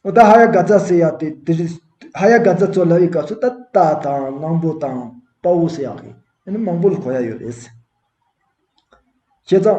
འོ་ད་ཧ་ཡ་ག་ཛཱ་ཟེར་ཡག་དེ་དེ་རི། ཧ་ཡ་ག་ཛཱ་ཚོ་ལབ་ཡི་སྐབས་སུ་ད་རྟ་དང་གླང་པོ་དང་དཔའ་བོ་ཟེར་ཡག་གི། ཨེ་ནི་མང་པོ་ལ་གོ་ཡ་ཡོད་རེད། བྱས་ཙང།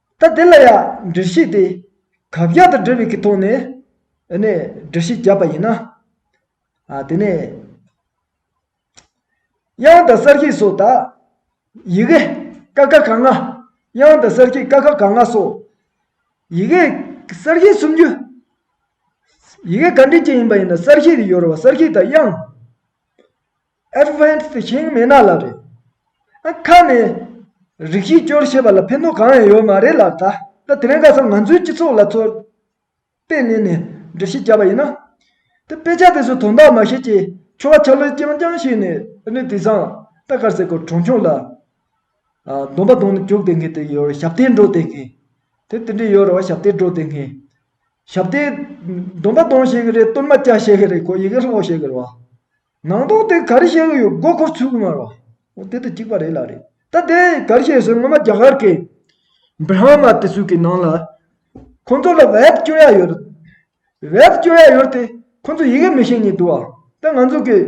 ལྟ་དེ་ལ་ཡང་འདྲི་གཞི་དེ་གབ་རྒྱག་ཏུ་འགྲོ་བའི་གི་ཐོག་ནས་ནས་འདྲི་གཞི་བརྒྱབ་པ་ཡིན་ན། དེ་ནས་དབྱངས་དང་གསར་གྱི་སོགས་དག། ཡི་གེ། ཀ་ཁ་ག་ང། དབྱངས་དང་གསར་གྱི་ཀ་ཁ་ག་ང་སོགས། ཡི་གེ། གསར་གྱི་སུམ་ཅུ། ཡི་གེ་ག་འདྲི་གཅིག་ཡིན་པ་ཡིན་ན་གསར་གྱི་དེ་ཡོ་རོ་བ་གསར་གྱི་དང་དབྱངས། Advanced ཞིང་མེད་ན་ལ་རེད། ཨ་ཁ་ནས་རིགས་གཞི་སྐྱོར་བྱེད་པ་ལ་ཕན་ནུས་གང་ཡང་ཡོད་མ་རེད་ལ་ད་ལྟ་དེ་རིང་ཁ་སང་ང་ཚོའི་སྤྱི་ཚོགས་ལ་ཚོར་དཔེ་གནས་ནས་འགྲེལ་བཤད་བརྒྱབ་པ་ཡིན་ན། དེ་དཔེ་ཆ་དེ་ཚོ་དོན་དག་མ་བྱེད་ཀྱི་ཆོ་ག་ཆ་ལུགས་རྐྱང་རྐྱང་ཞིག་ནས་ནས་དེ་བཟང་ལྟ་དཀར་ཟེར་དགོས་གྲོང་ཆོག་ལ་གདོང་པ་གདོང་ནས་བཅུག་བསྡད་མཁན་དེ་ཡོད་རེད་ཞབས་བརྟན་འགྲོ་བསྡད་མཁན་དེ་དེ་འདྲས་ཡོད་རེད་བ་ཞབས་བརྟན་འགྲོ་བསྡད་མཁན་ཞབས་བརྟན་གདོང་པ་གདོང་བྱེད་ཀྱི་རེད་གཏོར་མ་བཀྱག་བྱེད་ཀྱི་རེད་ཁོ་ཡི་གེ་སློག་བྱེད་ཀྱི་རེད་བ། ནང་དོགས་དེ་གར་བཤད་གི་ཡོད་མགོ་འཁོར་ཚུལ་གྱི་མར་བ། འོ་དེ་དང་གཅིག་པ་རེད་ལ་རེད་ད་དེ་གར་བཤད་ཟེར་ངོ་མ་རྒྱ་གར་གི། Brahma། དེ་ཚོས་ཀྱི་ནང་ལ། ཁོང་ཚོ་ལ་བེད་སྤྱོད་ཡ་ཡོད། བེད་སྤྱོད་ཡ་ཡོད་དེ་ཁོང་ཚོ་ཡི་གེ་མི་ཤེས་ཉེ་དུ་བ། དེ་ང་ཚོ་གི།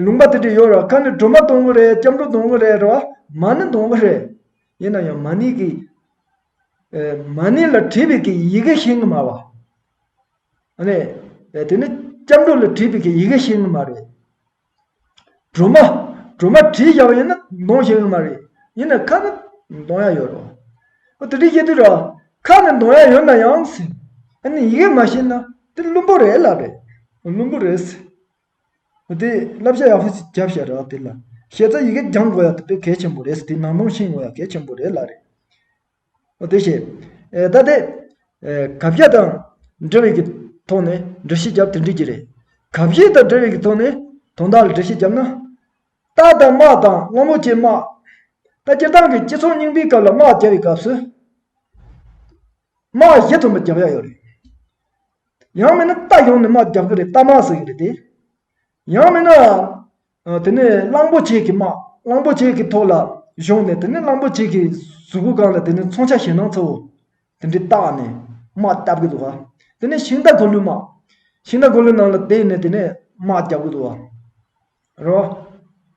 ལུང་པ་དེ་དྲི་ཡོད་ར་ཁ་ནི་སྒྲོལ་མ་སྡོང་བོ་རེད་སྐྱབས་འགྲོ་སྡོང་བོ་རེད་ར་བ། མ་ནི་སྡོང་བོ་རེད། ཡིན་ན་ཡང་མ་ནི་གི། མ་ནི་ལ་བྲིས་པའི་གི་ཡི་གེ་ཤེས་གི་མར་བ། ནི་དེ་ནི་སྐྱབས་འགྲོ་ལ་བྲིས་པའི་ཡི་གེ་ཞིག་ནི་མ་རེད། སྒྲོལ་མ། སྒྲོལ་མ་བྲིས་བཞག་པ་ཡིན་ན་འདོན་ཞིག་ནི་མ་རེད། ཡིན་ན་ཁ་ནི་འདོན་ཡ་ཡོད་རེད། ཨོ་དེ་འདྲའི་བཤད་དུས་ར། ཁ་ནི་འདོན་ཡ་ཡོད་ན་ཡང་སྲིད། ཨ་ནི་ཡི་གེ་མ་ཤེས་ན་དེ་བླུན་པོ་རེད་ལབ་རེད། བླུན་པོ་རེད་ཟེར། ཨོ་དེ་བསླབ་བྱ་ཡག་པོ་ཞིག་བརྒྱབ་ཤག་ར་དེ་ལ། ཤེས་ཚ་ཡི་གེ་སྦྱང་དགོས་ཡ་དེ་དཔེ་གལ་ཆེན་པོ་རེད་ཟེར་དེ་ནང་དོན་ཤེས་དགོས་ཡ་གལ་ཆེན་པོ་རེད་ལ་རེད། དེ་བཞིན། ད་ལྟའི། གབ་རྒྱ་དང། འབྲེལ་བའི་གི་ཐོག་ནས་འགྲེལ་བཤད་བརྒྱབ་དེ་འགྲིག་གི་རེད། གབ་གཞས་དང་འབྲེལ་བའི་གི་ཐོག་ནས་དོན་དག་ལ་འགྲེལ་བཤད་བརྒྱབ་ན། རྟ་དང་དམག་དང་སྔ་མོ་བཅས་དམག། ད་སྤྱིར་བཏང་གི་སྤྱི་ཚོགས་རྙིང་པའི་སྐབས་ལ་དམག་བརྒྱབ་པའི་སྐབས་སུ། དམག་གཞས་དུ་མ་བརྒྱབ་ཡག་ཡོད་རེད། ཡང་མིན་ན་རྟ་ཡོང་ནས་དམག་བརྒྱབ་གི་རེད་རྟ་དམག་ཟེར་གི་རེད་དེ། ཡང་མིན་ནའང། དེ་ནས་གླང་པོ་ཆེ་གི་དམག་གླང་པོ་ཆེ་གི་ཐོག་ལ་བཞུགས་ནས་དེ་ནས་གླང་པོ་ཆེ་གི་གཟུགས་སྐུ་གང་ལ་དེ་ནས་མཚོན་ཆ་ཞེད་སྣང་ཚོ་དེ་འདྲས་བཏགས་ནས་དམག་བརྒྱབ་ཀི་འདུག་ག་དེ་ནས་ཤིང་རྟ་གོ་ལུ་དམག་ཤིང་རྟ་གོ་ལུ་ནང་ལ་བསྡད་ནས་དེ་ནས་དམག་བརྒྱབ་ཀི་འདུག་ག་རོ།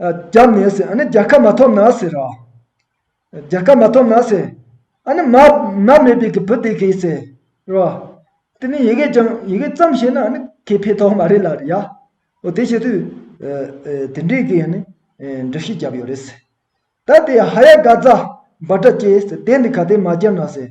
རྒྱ་མེད་ཟེར་ཨ་ནི་རྒྱ་ཁ་མ་ཐོབ་ན་ཟེར་རོ། རྒྱ་ཁ་མ་ཐོབ་ན་ཟེར། ཨ་ནི་མ་མ་མེད་པའི་གི་བུ་དེ་གས་ཟེར་རོ། དེ་ནི་ཡི་གེ་ཀྱང་ཡི་གེ་ཙམ་ཞེ་ན་ཨ་ནི་ཁས་ཕེ་ཐོག་མ་རེད་ལ་རེད་ཡ། འོ་དེ་བྱེད་དུས་དེ་འདྲའི་གི་ཨ་ནི་འདྲི་གཞི་བརྒྱབ་ཡོད་རེད་ཟེར། ད་དེ་ཧ་ཡ་ག་ཛ་འབའ་སྒྲ་སྐྱེས་ཟེར་དེ་འདི་ག་དེ་མ་བརྒྱབ་ན་ཟེར།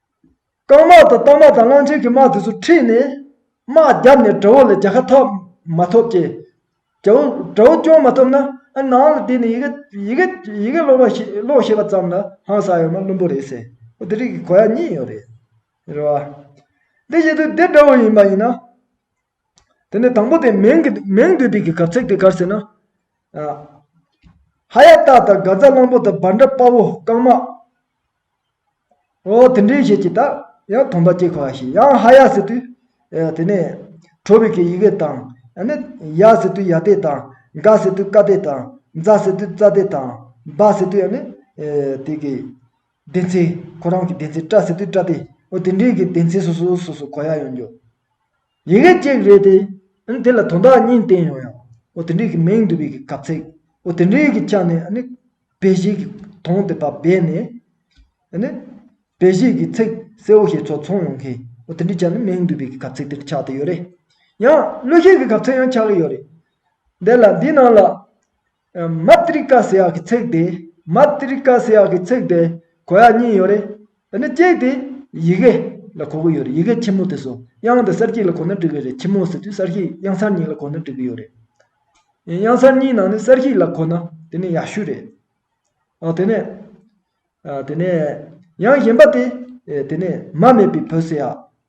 རྐང་དམག་དང་རྟ་དམག་དང་གླང་ཆེན་གྱི་དམག་དེ་ཚོ་ཁྲིད་ནས། དམག་བརྒྱབ་ནས་དགྲ་བོ་ལ་རྒྱལ་ཁ་ཐོབ་མ་ཐོབ་ཀྱི། དགྲ་བོ་དགྲ་བོ་སྐྱོང་མ་ཐུབ་ན་ཨ་ནང་ལ་བསྡད་ནས་ཡི་གེ་ཡི་གེ་ཡི་གེ་ཀློག་ཤེས་པ་ཙམ་ལ་ཧང་སངས་ཡོད་ན་བླུན་པོ་རེད་ཟེར། འདི་རིགས་ཀྱི་གོ་ཡ་གཉིས་ཡོད་རེད། རེད་བ། དེ་བཞིན་དུ་འདི་དགྲ་བོ་ཡིན་པ་ཡིན་ན། དེ་ནས་དང་པོ་དེ་མིང་གི་མིང་འདོད་པའི་གར་ཚིག་དེ་གར་ཟེར་ན། ཧ་ཡ་སྟག་དང་དགའ་རྫ་གླང་པོ་དང་འབར་འདྲ་དཔའ་བོ་རྐང་མ། འོ་དེ་འདྲའི་ཞེས་ཀྱི་དག་ཡང་དོམ་པ་སྐྱེ་ཁ་བ་ཞིག་ཡང་ཧ་ཡ་ཟེར་དུས། དེ་ནས་ཁྲོ་བའི་ཡི་གེ་དང། ཡ་ཟེར་དུས་ཡ་སྟེ་དང། དགའ་ཟེར་དུས་དཀའ་སྟེ་དང། རྫ་ཟེར་དུས་རྩྭ་སྟེ་དང། འབར་ཟེར་དུས་ནི་དེ་གི། བདེན་ཚིག་ཁོ་རང་གི་བདེན་ཚིག་བཀྲ་ཟེར་དུས་བཀྲ་སྟེ་འོ་དེ་འདྲས་ཀྱི་བདེན་ཚིག་སོ་སོའི་སོ་སོ་གོ་ཡ་ཡོང་རྒྱུ། ཡི་གེ་གཅིག་རེད་དེ། ཨཱ་དེ་ལ་དོན་དག་གཉིས་བསྟན་ཡོང་ཡང། འོ་དེ་འདྲས་ཀྱི་མིང་བསྡུ་བའི་གབ་ཚིག། འོ་དེ་འདྲས་ཀྱི་ཆ་ནས་ཨཱ་བེ་གཞིག་གི་དོན་དེ་བ་བས་ནས། ཨཱ་བེ་གཞིག་གི་ཚིག་གསལ་བོ་ཞིག་ཚོ་མཚུངས་ཡོང་གི། འོ་དེ་འདྲའི་ཆ་ནས་མིང་བསྡུ་བའི་གབ་ཚིག་དེ་འདྲ་ཆགས་ཏེ་ཡོད་རེད། ཡང་གླུ་གཞས་ཀྱི་གབ་ཚིག་ཡང་ཆགས་ཀྱི་ཡོད་རེད། དེ་ལ་འདིའི་ནང་ལ། Matrika ཟེར་བ་གི་ཚིག་དེ Matrika ཟེར་བ་གི་ཚིག་དེ་གོ་ཡ་གཉིས་ཡོད་རེད། དེ་ནི་གཅིག་དེ་ཡི་གེ་ལ་གོ་གི་ཡོད་རེད་ཡི་གེ་ཁྱི་མོ་དེ་སོ་དབྱངས་དེ་གསར་སྐྱེས་ལ་གོ་ན་འགྲིག་གི་རེད་ཁྱི་མོ་ཟེར་དུས་གསར་སྐྱེས་དབྱངས་གསར་གཉིས་ལ་གོ་ན་འགྲིག་གི་ཡོད་རེད། དབྱངས་གསར་གཉིས་ནང་ནས་གསར་སྐྱེས་ལ་གོ་ན་དེ་ནི་ཡག་ཤོས་རེད། ཨོ་དེ་ནས་དེ་ནས་ཡང་གཞན་པ་དེ་དེ་ནས་མ་མེད་པའི་བུ་ཟེར་ཡ།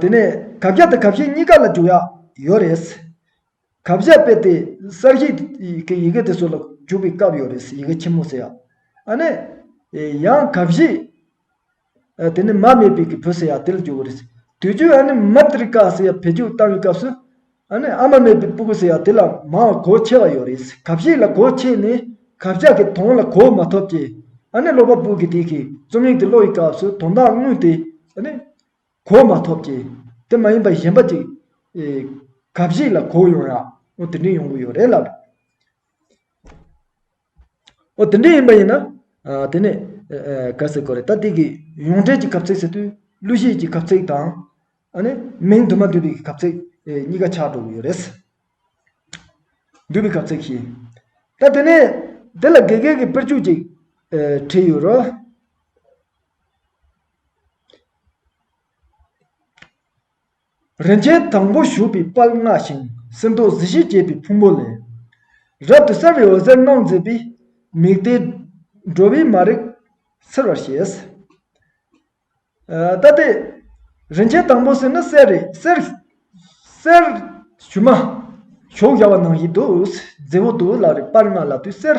དེ་ནས་གབ་བཞག་དང་གབ་བཤད་གཉིས་ཀ་ལ་འཇུག་ཡག་ཡོད་རེད། གབ་བཞག་དཔེ་དེ་གསར་བཞེངས་ཀྱི་ཡི་གེ་དེ་ཚོ་ལ་འཇུག་པའི་སྐབས་ཡོད་རེད་ཡི་གེ་ཆེན་མོ་ཟེར་ཡག་ཨ་ནི། ཡང་གབ་བཞེས་དེ་ནི་མ་མེད་པའི་གི་བུ་ཟེར་ཡག་དེ་ལ་འཇུག་གི་རེད། དུས་རྒྱུན་ཨ་ནི་མི་ཏྲི་ཀ་ཟེར་ཡག་བེད་སྤྱོད་བཏང་བའི་སྐབས་སུ། ཨ་ནེ་ཨ་མ་མེད་པའི་པུཀུ་ཟེར་ཡ་དེ་ལ་མའོ་གོ་ཆེ་བ་ཡོད་རེད་ཟེར་གབ་ཞིག་ལ་གོ་ཆེ་ནས་གབ་ལྕག་གི་དོང་ལ་གོ་མ་ཐོབ་ཀྱི་ཨ་ནེ་ཀློག་པ་པོ་གི་དེ་གི་རྩོམ་ཡིག་དེ་ཀློག་ཡི་སྐབས་སུ་དོང་དག་དངུལ་དེ་ཨ་ནེ་གོ་མ་ཐོབ་ཀྱི་དེ་མ་ཡིན་པ་གཞན་པ་ཅིག་གབ་ཞིག་ལ་གོ་ཡོང་ཡ་ཨོ་དེ་འདྲའི་ཡོང་གི་ཡོད་རེད་ལབ། འོ་དེ་འདྲས་ཡིན་པ་ཡིན་ན། དེ་ནས། གལ་སྲིད་གོ་རེ་ད་དེ་གི་ཡོངས་འབྲེལ་གྱི་གབ་ཚིག་ཟེར་དུས་གླུ་གཞས་ཀྱི་གབ་ཚིག་དང། ཨ་ནི་མིང་དུ་མ་འདུས་པའི་གབ་ཚིག་གཉིས་ཀ་ཆགས་འགྲོ་གི་ཡོད་རེད། འདུས་པའི་གབ་ཚིག་གཞི། ད་དེ་ནས། དེ་ལ་དགེ་རྒན་གྱི་དཔེར་བརྗོད་ཅིག། བྲིས་ཡོད་རོ། རིན་ཆེན་དང་པོ་བཞུགས་པའི་དཔལ་མངའ་ཞིང་སིལ་ཏོག་གཟི་བརྗིད་རྒྱས་པའི་ཕུང་པོ་ལས། རབ་ཏུ་གསལ་བའི་འོད་ཟེར་སྣང་མཛད་པའི། མིག་དེས་འགྲོ་བའི་མ་རིག་སེལ་བར་བྱེད། ལྟ་སྟེ། རིན་ཆེན་དང་པོ་སྲིད་ནི་གསེར་རེད་གསེར། གསེར། ཞུན་མ། གཞོགས་བཞག་པ་ནང་བཞིན་དུ། རྫི་བོ་དུ་བོ་ལ་རེ་སྤར་སྔགས་ལ་དུས་གསེར།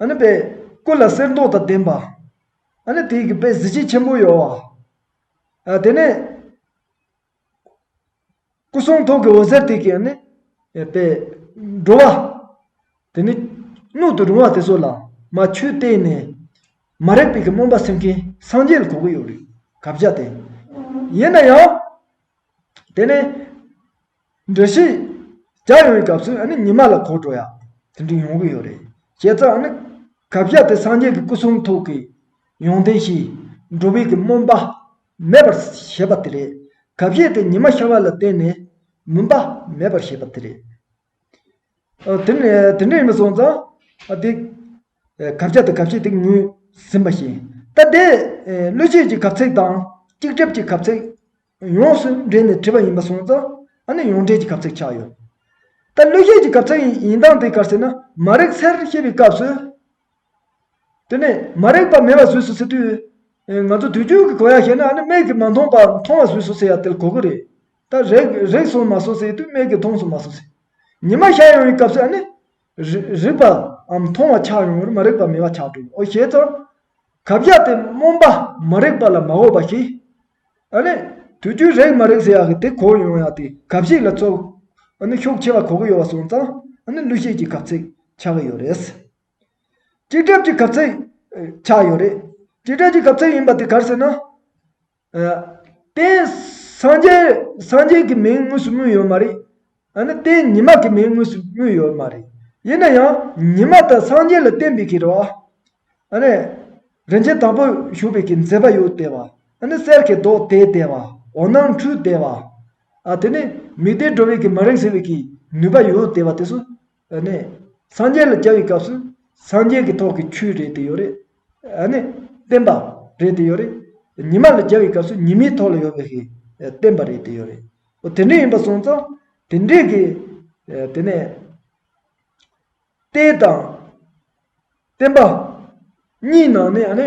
ཨ་ནི་པའི་སྐུ་ལ་གསེར་མདོག་དང་ལྡན་པ། ཨ་ནི་དེའི་གི་པའི་གཟི་བརྗིད་ཆེན་པོ་ཡོད། ཨ་དེ་ནས། སྐུ་གསུང་ཐུགས་ཀྱི་འོད་ཟེར་དེ་གི་ནི། པའི་འགྲོ་བ། དེ་ནི། སྣོད་དུ་རུང་བ་དེ་ཚོ་ལ། མ་ཆུས་བལྟས་ནས། མ་རེག་པའི་གི་སྨོན་པ་སེམས་ཀྱིན་སངས་རྒྱས་ལ་གོ་གི་ཡོད་རེད། གབ་བྱ་སྟེ། ཡིན་ན་ཡང། དེ་ནས། འདྲི་ཞིག། བརྒྱ་ཡོང་བའི་སྐབས་སུ་ཨ་ནི་ཉི་མ་ལ་གོ་འགྲོ་ཡ། དེ་འདྲ་ཡོང་གི་ཡོད་རེད། བྱས་ཙང་ཨ་ནི། གབ་བཞག་དེ་སངས་རྒྱས་ཀྱི་སྐུ་གསུང་ཐུགས་ཀྱི། ཡོན་ཏན་གྱིས། འགྲོ་བས་ཀྱི་སྨོན་པ། མེད་པར་བྱེད་པ་དེ་རེད། གབ་བཞེས་དེ་ཉི་མ་ཤར་བ་ལ་བརྟེན་ནས། མུན་པ། མེད་པར་བྱེད་པ་དེ་རེད། དེ་ནས་དེ་འདྲ་ཡིན་པ་སོང་ཙང། ཨ་དེ། གབ་བཞག་དེ་གབ་བྱེད་དེ་ངོས་ཟིན་པ་བཞིན། ད་དེ། བློས་བྱས་ཀྱི་གབ་ཚིག་དང། སྐྱིགས་བྲབ་ཀྱི་གབ་ཚིག། ཡོངས་སུ་བསྒྲིལ་ནས་བྲིས་པ་ཡིན་པར་སོང་ཙང་ཨ་ནི་ཡོངས་བསྒྲིལ་གྱི་གབ་ཚིག་ཆགས་ཡོད། ད་གླུ་གཞས་ཀྱི་གབ་ཚིག་ཡིན་སྟངས་དེ་གར་ཟེར་ན་མ་རེག་ཚེར་ཤེས་པའི་སྐབས་སུ། དེ་ནས་མ་རེག་པ་མེད་པ་བཟོས་སུ་ཟེར་དུས། ང་ཚོ་དུས་རྒྱུན་གྱི་གོ་ཡ་བཤད་ན་ཨ་ནི་མིག་གིས་མ་མཐོང་པར་མཐོང་བ་བཟོས་སུ་ཟེར་ཡ་དེ་གོ་གི་རེད། ད་རེག་རེག་སོང་མ་སོང་ཟེར་དུས་མིག་གིས་མཐོང་སོང་མ་སོང་ཟེར། ཉི་མ་ཤར་ཡོང་བའི་སྐབས་སུ་ཨ་ནི། རིག་པ་འམ་མཐོང་བ་ཆགས་ཡོང་བར་མ་རིག་པ་མེད་པ་ཆགས་འགྲོ་འོ་ཞེས་དང། གབ་རྒྱག་སྟེ་རྨོངས་པ་མ་རིག་པ་ལ་མ་འོས་པ་ཞིག། ཨ་ནི། དུས་རྒྱུན་རེག་མ་རེག་ཟེར་ཡག་གི་དེ་གོ་ཡོང་ཡག་དེ་གབ་ཞིག་ལ་ཚོར། ཨ་ནི་ཤུགས་ཆེ་བ་གོ་གི་ཡོད་པ་སོང་ཙང་ཨ་ནི་གླུ་གཞས་ཀྱི་གབ་ཚིག་ཆགས་གི་ཡོད་རེད། སྐྱིད་གྲབས་ཀྱི་གབ་ཚིག་ཆགས་ཡོད་རེད། སྐྱིད་གྲབས་ཀྱི་གབ་ཚིག་ཡིན་པ་དེ་གར་ཟེར་ན། དེ་སངས་རྒྱས་ཀྱི་མིང་དངོས་སུ་སྨོས་ཡོད་མ་རེད། ནི་དེ་ཉི་མ་གི་མིང་དངོས་སུ་སྨོས་ཡོད་མ་རེད། ཡིན་ན་ཡང་ཉི་མ་དང་སངས་རྒྱས་ལ་བརྟེན་པའི་གི་རོ། ནི་རིན་ཆེན་དང་པོ་བཞུགས་པའི་གི་མཛེས་པ་ཡོད་དེ་བ། ནི་གསེར་གྱི་མདོག་དེ་དེ་བ། འོ་ནང་འཁྲུལ་དེ་བ། དེ་ནི་མིག་དེ་འགྲོ་བའི་གི་མ་རིག་ཟེར་བའི་གི་ནུས་པ་ཡོད་དེ་བ་དེ་སོ། ཨ་ནི། སངས་རྒྱས་ལ་བཅའ་བའི་སྐབས་སུ། སངས་རྒྱས་ཀྱི་ཐོག་གི་ཆུའི་རེད་དེ་ཡོད་རེད། ཨ་ནི། བསྟན་པ། རེད་དེ་ཡོད་རེད། ཉི་མ་ལ་བཅའ་བའི་སྐབས་སུ་ཉི་མའི་ཐོག་ལ་ཡོད་པའི་ཧེ། བསྟན་པ་རེད་དེ་ཡོད་རེད། འོ་དེ་འདྲས་ཡིན་པ་སོང་ཙང། དེ་འདྲས་ཀྱི། དེ་ནས། ཏེ་དང། བསྟན་པ། གཉིས་ནང་ནས་ཨ་ནི།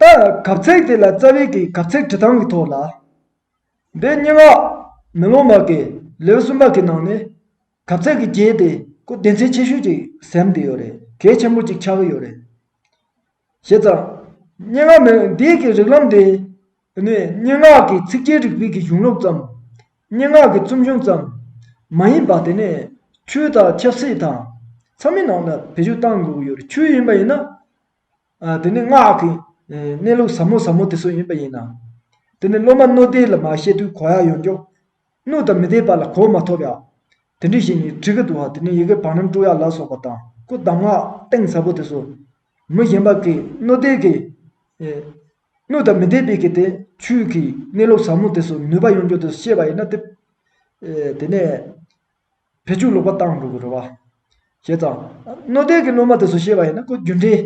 ལྟ། གབ་ཚིག་དེ་ལ་རྩ་བའི་གིས་གབ་ཚིག་བྲི་སྟངས་ཀྱི་ཐོག་ལ། འདི་སྙན་ངག་མེ་ལོང་མ་གི་ལེའུ་གསུམ་པ་གི་ནང་ནས་གབ་ཚིག་གི་རྒྱས་དེ་ཀུ་བདེན་ཚིག་ཆེ་ཤོས་ཅིག་གཟེམ་དེ་ཡོད་རེད་གལ་ཆེན་པོ་ཅིག་ཆགས་ཀྱི་ཡོད་རེད། བྱས་ཙང། སྙན་ངག་མེ་འདིའི་གི་རིག་ལམ་དེ་ནི་སྙན་ངག་གི་ཚིག་རྒྱས་རིག་པའི་གི་གཞུང་ལུགས་ཙམ། སྙན་ངག་གི་རྩོམ་གཞུང་ཙམ། མ་ཡིན་པ་དེ་ནི་ཆོས་དང་ཆབ་སྲིད་དང། མཚམས་མེད་ནང་ལ་བེད་སྤྱོད་གཏང་དགོས་ཀྱི་ཡོད་རེད་ཆོས་ཡིན་པ་ཡིན་ན། དེ་ནི་སྔགས་ཀྱི་གནས་ལུགས་ཟབ་མོ་ཟབ་མོ་དེ་ཚོ་ཡིན་པ་ཡིན་ནམ། དེ་ནི་སློབ་མ་སྣོད་ལྡན་ལ་མ་བཤད་དུས་གོ་ཡ་ཡོང་རྒྱུ། སྣོད་དང་མི་ལྡན་པ་ལ་གོ་མ་ཐོབ་ཡ། དེ་འདྲི་ཞིག་ནི་གྲི་གུ་དུ་བ་དེ་ནི་ཡི་གེ་བང་རིམ་དྲུག་ཡ་ལ་སོགས་པ་དང་སྐུ་གདམས་སྔགས་གཏིང་ཟབ་པོ་དེ་ཚོ། མི་གཞན་པ་གིས་སྣོད་ལྡན་གྱི། སྣོད་དང་མི་ལྡན་པའི་གི་དེ་ཆོས་ཀྱི་གནས་ལུགས་ཟབ་མོ་དེ་ཚོ་ནུས་པ་ཡོང་རྒྱུ་དེ་ཚོ་བཤད་པ་ཡིན་ན་དེ། དེ་ནས། བེད་སྤྱོད་ལོག་པ་བཏང་འགྲོ་གི་རེད་བ། ཞེས་དང། རྣོ་རྟའི་གི་སློབ་མ་དེ་ཚོ་བཤད་པ་ཡིན་ན་ཁོ་རྒྱུ་འབྲས་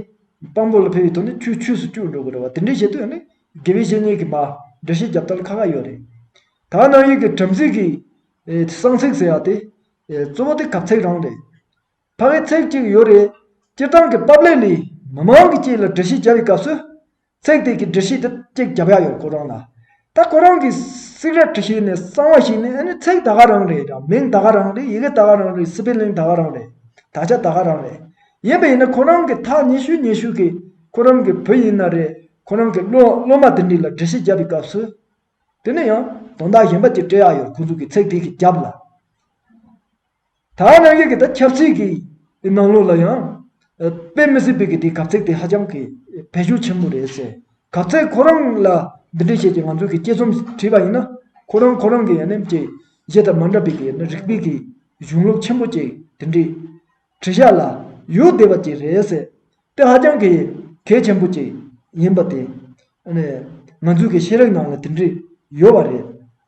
དཔང་པོ་ལ་ཕེབས་ཡོད་དོ་ནི་ཁྱོད་ཆུས་སུ་བསྐྱུར་འགྲོ་གི་རེད་བ་དེ་འདྲས་བྱེད་འདོད་ཡོད་ནི་དགེ་བའི་བཤེས་གཉེན་གི་མ་འདྲ་བཤད་རྒྱབ་ལྟར་ཁ་ཁ་ཡོད་རེད། ད་ནང་ཡུལ་གི་བྲམ་ཟེ་གི། གསང་ཚིག་ཟེར་བ་དེ། གཙོ་བོ་དེ་གབ་ཚིག་རང་རེད། ཕ་གི་ཚིག་ཅིག་ཡོད་རེད། སྤྱིར་བཏང་གི་པབ་ལེགས་ལས། མི་མང་གི་སྐྱིད་ལ་འདྲི་གཞི་བརྒྱབ་པའི་སྐབས་སུ། ཚེག་དེ་གི་འདྲི་གཞི་དེ་གཅིག་བརྒྱབ་ཡག་ཡོད་ཁོ་རང་ལ། ད་ཁོ་རང་གིས་སིག་རལ་དྲི་ཞིག་ནས་གསང་བ་ཞིག་ནས་ཨ་ནི་ཚེག་ད་ག་རང་རེད་དང་མིང་ད་ག་རང་རེད་ཡི་གེ་ད་ག་རང་རེད་སི་པི་ལིང་ད་ག་རང་རེད་དག་ཆ་ད་ག་རང་རེད་ཡིན་པ་ཡིན་ན་ཁོ་རང་གིས་ཐག་ཉེ་ཤུས་ཉེ་ཤུས་ཀྱི་ཁོ་རང་གི་བུ་ཡིན་ན་རེད་ཁོ་རང་གིས་སློ་སློ་མ་དེ་འདྲི་ལ་འདྲི་གཞི་བརྒྱབ་པའི་སྐབས་སུ། དེ་ནས་ཡང་དོན་དག་གཞན་པ་གཅིག་སྤྲད་ཡག་ཡོད་ཁོ་ཚོ་གིས་ཚེག་དེ་གི་རྒྱབ་ལ། ད་རང་ཉིད་ཀྱི་ད་ཁྱབ་ཚིག་གི་ནང་ལོགས་ལ་ཡང། དཔེ་མི་སྲིད་པའི་གི་དེ་གབ་ཚིག་དེ་ཧ་ཅང་གི་བེད་སྤྱོད་ཆེན་པོ་རེད་ཟེར། གབ་ཚིག་ཁོ་རང་ལ་འདི་འདྲས་བྱས་ཀྱི་ང་ཚོས་གི་དཔྱད་རྩོམ་བྲིས་པ་ཡིན་ན། ཁོ་རང་ཁོ་རང་གི་ཡ་ནེམ་ཅིག་གཞས་དང་མ་འདྲ་པའི་གི་རིག་པའི་གི་གཞུང་ལུགས་ཆེན་པོ་ཅིག་དེ་འདྲས་བྲིས་ཤག་ལ་ཡོད་བསྡད་པ་ཅིག་རེད་ཟེར་དེ་ཧ་ཅང་གི་གལ་ཆེན་པོ་ཅིག་ཡིན་པ་དེ། ང་ཚོས་གི་ཤེས་རིག་ནང་ལ་དེ་འདྲས་ཡོད་བ་རེད།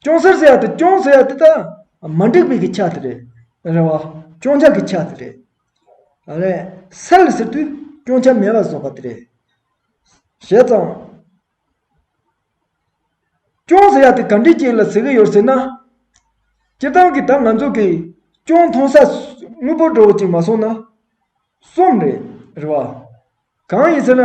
སྐྱོང་སར་ཟེར་བ་དང་སྐྱོང་ཟེར་བ་དེ་དག་མ་འགྲིག་པའི་གི་ཆ་དེ་རེད། རེད་བ། སྐྱོང་བྱ་གི་ཆ་དེ་རེད། རེད། སལ་ཟེར་དུས་སྐྱོང་བྱ་མེད་པ་བཟོ་པ་དེ་རེད། བྱས་ཙང། སྐྱོང་ཟེར་བ་དེ་ག་འདྲི་ཅིག་ལ་ཟེར་གི་ཡོད་ཟེར་ན། སྤྱིར་བཏང་གི་ད་ང་ཚོ་གི་སྐྱོང་མཐོང་ས་དངོས་པོ་འགྲོ་བ་ཅིག་མ་སོང་ན། གསུམ་རེད། རེད་བ། གང་ཡིན་ཟེར་ན།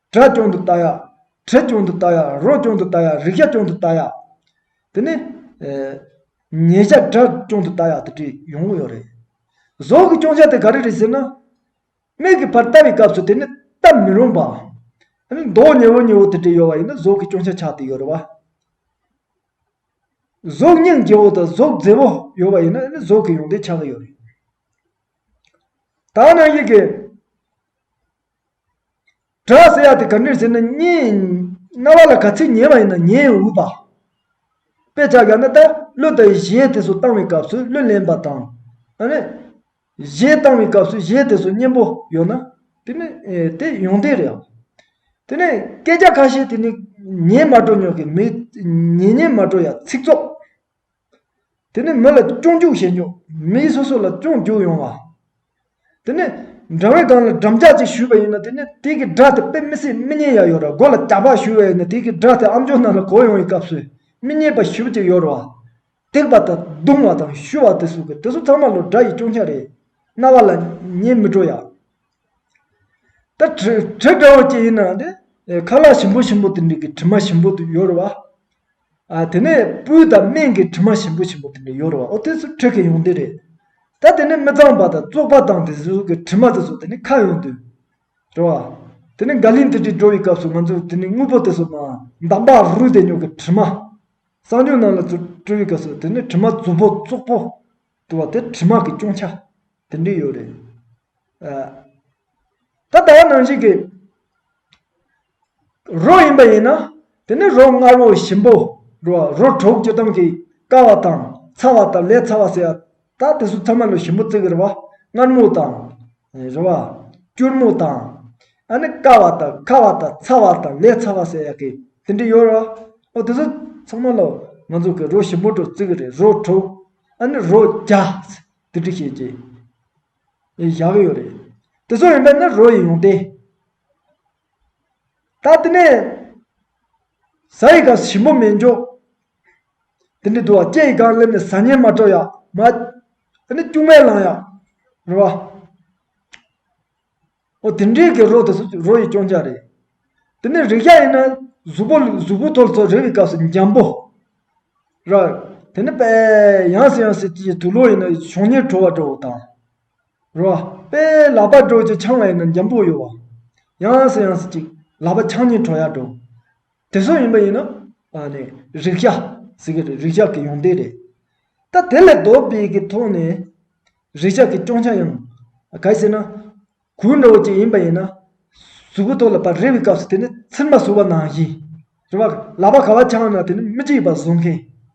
སྒྲ་སྐྱོང་དུ་བལྟ་ཡ། དྲི་སྐྱོང་དུ་བལྟ་ཡ། རོ་སྐྱོང་དུ་བལྟ་ཡ། རིག་བྱ་སྐྱོང་དུ་བལྟ་ཡ། དེ་ནས། ཉེས་བྱ་སྒྲ་སྐྱོང་དུ་བལྟ་ཡ་དེ་འདྲའི་ཡོང་གི་ཡོད་རེད། བཟོ་གི་སྐྱོང་བྱ་དེ་ག་རེ་རེད་ཟེར་ན། མིག་གི་བར་བལྟ་བའི་སྐབས་སུ་དེ་ནི་བལྟ་མི་རུང་བ། དེ་ནི་མདོག་ཉེ་བོ་ཉེ་བོ་དེ་འདྲའི་ཡོད་བ་ཡིན་ན་བཟོ་གི་སྐྱོང་བྱ་ཆགས་ཏེ་ཡོད་རེད་བ། གཟུགས་བརྙན་རྒྱལ་བོ་དང་གཟུགས་མཛེས་པོ་ཡོད་བ་ཡིན་ན་དེ་ནི་བཟོ་གི་ཡོང་དེ་ཆགས་ཀྱི་ཡོད་རེད། ད་ནངས་ཡིག་གི། སྒྲ་ཟེར་ཡག་དེ་ག་འདྲིར་ཟེར་ན་སྙན། རྣ་བ་ལ་ག་ཚིག་ཉན་བ་ཡིན་ན་ཉན་འུ་བ། དཔེ་ཆ་ཡང་ན་ད་གློ་དང་གཞས་དེ་ཚོ་བཏང་བའི་སྐབས་སུ་གློ་ལེན་པ་དང། གཞས་བཏང་བའི་སྐབས་སུ་གཞས་དེ་ཚོ་སྙན་པོ་ཡོད་ན། དེ་ནི་དེ་ཡོང་དོན་རེད། དེ་ནས་སྐད་ཆ་ཁ་ཤས་དེ་ནི་ཉན་མ་འགྲོ་ཉོག་གི་མི་ཉན་ཉན་མ་འགྲོ་ཡ་ཚིག་རྫོགས། དེ་ནི་མི་ལ་སྐྱོང་རྒྱུག་བྱེད་རྒྱུ། མིའི་སོ་སོ་ལ་སྐྱོང་རྒྱུག་ཡོང་བ། དེ་ནི་འགྲམ་བའི་སྒང་ལ་འགྲམ་ལྕག་ཅིག་བཞུས་པ་ཡིན་ན་དེ་ནི་དེ་གི་སྒྲ་དེ་དཔེ་མི་སྲིད་མི་སྙན་ཡ་ཡོད་ར་སྒོ་ལ་ལྕགས་ཕག་བཞུས་བ་ཡིན་ན་དེ་གི་སྒྲ་དེ་ཨམ་ཅོག་ནང་ལ་གོ་ཡོང་བའི་སྐབས་སུ་མི་སྙན་པ་ཞིབ་ཅིག་ཡོད་ར་བ། བརྡེག་པ་དང་བརྡུང་བ་དང་བཞུ་བ་དེ་གསུང་གི་དེ་ཚོ་ཚང་མ་ལོ་སྒྲ་ཡི་སྐྱོང་ཆ་རེད། རྣ་བ་ལ་ཉན་མི་སྤྲོ་ཡ། ད་གྲི་གྲི་འདྲ་བོ་ཅིག་ཡིན་ན་དེ་ཁ་ལག་ཞིམ་པོ་ཞིམ་པོ་དེ་འདྲི་གི་གྲི་མ་ཞིམ་པོ་དེ་ཡོད་ར་བ། དེ་ནས་སྤུའི་དང་སྨད་ཀྱི་དྲི་མ་ཞིམ་པོ་ཞིམ་པོ་དེ་འདྲ་ཡོད་རེད་བ་ཨོ་དེ་ཚོ་ཁྲེགས་ཀྱི་ཡོང་དུས་རེད། ད་དེ་ནས་མི་གཙང་བ་དང་བཙོག་པ་དང་དེ་ཚོ་གི་དྲི་མ་དེ་ཚོ་དེ་ནས་ཁ་ཡོང་དུས་རེད་བ། དེ་ནས་འགའ་ལིང་དེ་འདྲའི་འགྲོ་བའི་སྐབས་སུ་ང་ཚོས་དེ་ནས་དངོས་པོ་དེ་ཚོ་མ་འདང་པ་རུལ་དེ་ཉོག་གི་དྲི་མ། གསང་སྤྱོད་ནང་ལ་ཚོ་སྤྲོ་བའི་སྐབས་སུ་དེ་ནས་དྲི་མ་རྫུབ་པོ་བཙོག་པོ་དེ་བ་དེ་དྲི་མ་གི་སྐྱོང་ཆ་དེ་འདྲའི་ཡོད་རེད། ད་ད་ནང་བཞིན་གྱི། རོ་ཡིན་པ་ཡིན་ན་དེ་ནི་རོ་མངར་བོ་ཞིམ་པོ་རོ་བ་རོ་དྲུག་སྤྱི་སྡོམ་གྱིས་དཀར་བ་དང་ཚ་བ་དང་ལས་ཚ་བ་ཟེར་བ་དག་དེ་གསུམ་ཚང་མ་ལོ་ཞིམ་པོ་བརྩི་གི་རེད་བ་མངར་མོ་དང། རོ་བ། སྐྱུར་མོ་དང། ཨ་ནི་དཀར་བ་དང་ཁ་བ་དང་ཚ་བ་དང་ལས་ཚ་བ་ཟེར་ཡག་གི་དེ་འདྲ་ཡོད་རེད་བ་ཨོ་དེ་གསུམ་ཚང་མ་ལོ་ང་ཚོ་གི་རོ་ཞིམ་པོ་དྲུག་བརྩི་གི་རེད་རོ་དྲུག་ཨ་ནི་རོ་བརྒྱ་དེ་འདྲ་བཤད་ཀྱི་ཡག་ཡོད་རེད་དེ་གསུམ་ཡིན་པ་ནི་རོ་ཡི་ཡོངས་ཏེ། ད་དེ་ནས། ས་ཡི་ག་ཞིམ་པོ་མེད་འཇོག། དེ་ནས་དུ་བ་སྐྱེ་ཡི་གར་སླེབས་ནས་ཟ་ཉལ་མ་སྤྲོ་ཡ། མ། དེ་ནས་སྐྱུག་མེར་ལངས་ཡ། རེད་བ། ཨོ་དེ་འདྲའི་གི་རོ་དེ་ཚོ་རོ་ཡི་སྐྱོང་བྱ་རེད། དེ་ནས་རེག་བྱ་ཡིན་ན། གཟུགས་པོ་གཟུགས་པོ་ཐོར་ཚོར་རེག་པའི་སྐབས་སུ་འཇམ་པོ། ར། དེ་ནས་པས། ཡང་སྲིད་ཡང་སྲིད་ཀྱི་དུ་ལོ་ཡིན་ན་ཞོགས་ཉེར་བྲོ་བ་བྲོ་བ་དང། རོ། པའི་ལག་པ་གྲོགས་ཀྱི་ཆང་བའི་ནང་འཇམ་པོ་ཡོད། ཡངས་སུ་ཡངས་སུ་ཅིག་ལག་པ་ཆང་གཉིས་གྲོགས་ཡར་འགྲོ། དེ་སོགས་ཡིན་པ་ཡིན་ནོ། ཨ་ནི་རིག་བྱ། ཟེར་གྱི་རེད་རིག་བྱ་གི་ཡོང་སྡེ་རེད། ད་དེ་ལས་ལྡོག་པའི་གི་ཐོག་ནས། རིག་བྱ་གི་སྐྱོང་བྱ་ཡང། གལ་སྲིད་ན། གོས་འདྲ་བོ་ཅིག་ཡིན་པ་ཡིན་ན། གཟུགས་པོ་ཐོག་ལ་པར་རེ་བའི་སྐབས་སུ་དེ་ནི་ཚིར་མ་བཟོ་བ་ནང་བཞིན། རེ་བ། ལག་པ་ག་བ་ཆང་ནང་དེ་ནི་མི་གཅིག་པ་བཟོ་མཁན།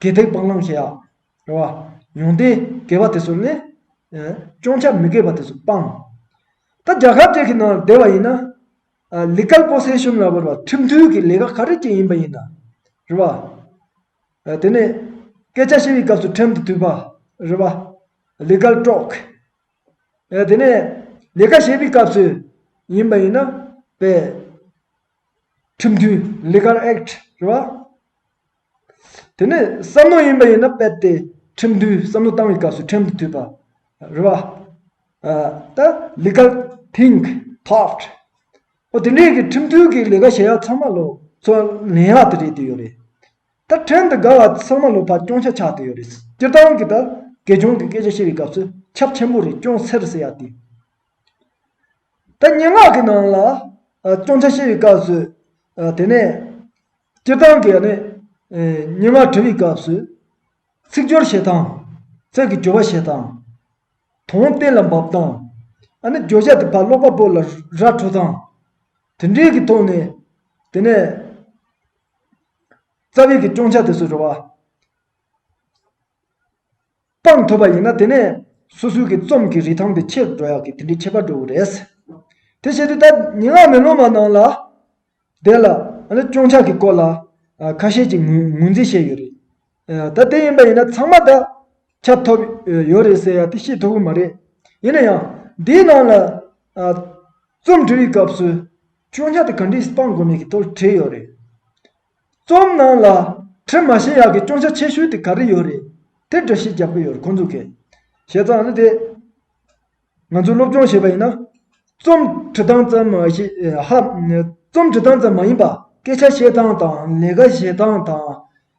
དགེ་སྡིག་སྤང་བླང་བྱེད། རེ་བ། ཡོན་ཏན་དགེ་བ་དེ་ཚོ་ནི། སྤྱང་བྱ་མི་དགེ་བ་དེ་ཚོ་སྤང། ད་རྒྱ་གར་བཅས་ཀྱི་ནང་ལ་བསྡད་པ་ཡིན་ན། ལི་སྐལ་པོ་སེ་ཤུན་ལ་བོར་བ་ཁྲིམས་མཐུན་གྱི་ལས་ཀ་ག་རེ་བྱེད་ཡིན་པ་ཡིན་ན། རེ་བ། དེ་ནས། སྐད་ཆ་བཤད་པའི་སྐབས་སུ་ཁྲིམས་དེ་དུས་པ། རེ་བ། ལི་སྐལ་དཀྲོགས། དེ་ནས། ལས་ཀ་བྱེད་པའི་སྐབས་སུ་ཡིན་པ་ཡིན་ན། པའི། ཁྲིམས་མཐུན Legal Act རེད་བ། དེ་ནས་བསམ་མནོ་ཡིན་པ་ཡིན་ན་དཔེར་ཏེ་ཁྲིམས་མཐུན་བསམ་མནོ་བཏང་བའི་སྐབས་སུ་ཁྲིམས་དེ་འཐུས་པ་རེད་བ། ད Legal Think Thought ཨོ་དེ་འདྲའི་གི་ཁྲིམས་མཐུན་གི་ལས་ཀ་བྱེད་ཡག་ཚང་མ་ལོ་ཚོ་ལན་ཡག་དེ་རེད་དེ་ཡོད་རེད། ད་ཁྲིམས་དེ་དགའ་བ་ཚང་མ་ལོ་ཕར་སྐྱོང་ཆ་ཆག་དེ་ཡོད་རེད། སྤྱིར་བཏང་གི་ད་དགེ་སྦྱོང་གི་སྐད་ཆ་བཤད་པའི་སྐབས་སུ་ཁྱབ་ཆེན་པོ་རེད་ཅུང་ཟེར་ཟེར་ཡག་དེ། ད་སྙན་ངག་གི་ནང་ལ་སྐྱོང་ཆ་ཤེས་པའི་སྐབས་སུ། དེ་ནས་སྤྱིར་བཏང་གི་སྙན་ངག་བྲི་བའི་སྐབས་སུ། ཚིག་སྦྱོར་བྱེད་སྟངས། ཚིག་གི་སྦྱོར་བ་བྱེད་སྟངས། དོན་གཏན་ལ་འབབ་སྟངས། ཨ་ནི་བརྗོད་བྱ་དེ་ཕར་ཀློག་པ་པོ་ལ་ར་འཕྲོད་སྟངས། དེ་འདྲའི་གི་ཐོག་ནས། དེ་ནས་རྩ་བའི་གི་སྐྱོང་ཆ་དེ་ཚོ་བྲི་བ། སྤངས་ཐུབ་པ་ཡིན་ན་དེ་ནས་སོ་སོའི་གི་རྩོམ་གི་རིས་ཐང་དེ་ཆེར་འགྲོ་ཡག་གི་དེ་འདྲའི་ཁྱད་པར་འགྲོ་གི་རེད། དེ་བྱས་དུས་ད་ཉིན་ངག་མེ་ལོང་མ་ནང་ལ་དེ་ལ་སྐྱོང་ཆག་གི་སྐོར་ལ་ཁ་ཤས་ཀྱི་ངོས་འཛིན་བྱས་ཡོད་རེད། ད་དེ་ཡིན་པ་ཡིན་ན་ཚང་མ་ད་ཁྱབ་ཐོབ་ཡོད་རེད་ཟེར་ཡག་དེ་ཤེས་ཐུབ་གི་མ་རེད། ཡིན་ན་ཡང་འདིའི་ནང་ལ་རྩོམ་འབྲི་བའི་སྐབས་སུ་སྐྱོང་ཆག་དེ་ག་འདྲས་སྤང་དགོས་མེད་ཀྱི་ཐོག་ལ་བྲིས་ཡོད་རེད། རྩོམ་ནང་ལ་དྲི་མ་ཞེ་ཡག་གི་སྐྱོང་ཆ་ཆེ་ཤོས་དེ་ག་རེ་ཡོད་རེད་དེ་འདྲ་ཞིག་རྒྱབ་གི་ཡོད་རེད་ཁོང་ཚོ་གས་བྱས་ཙང་ལ་དེ་ང་ཚོས་སློབ་སྦྱོང་བྱས་པ་ཡིན་ན་རྩོམ་འབྲི་སྟངས་ཙམ་མ་ཞེ་ཧ་རྩོམ་འབྲི་སྟངས་ཙམ་མ་ཡིན་པ་སྐད་ཆ་བཤད་སྟངས་དང་ལས་ཀ་བྱེད་སྟངས་དང་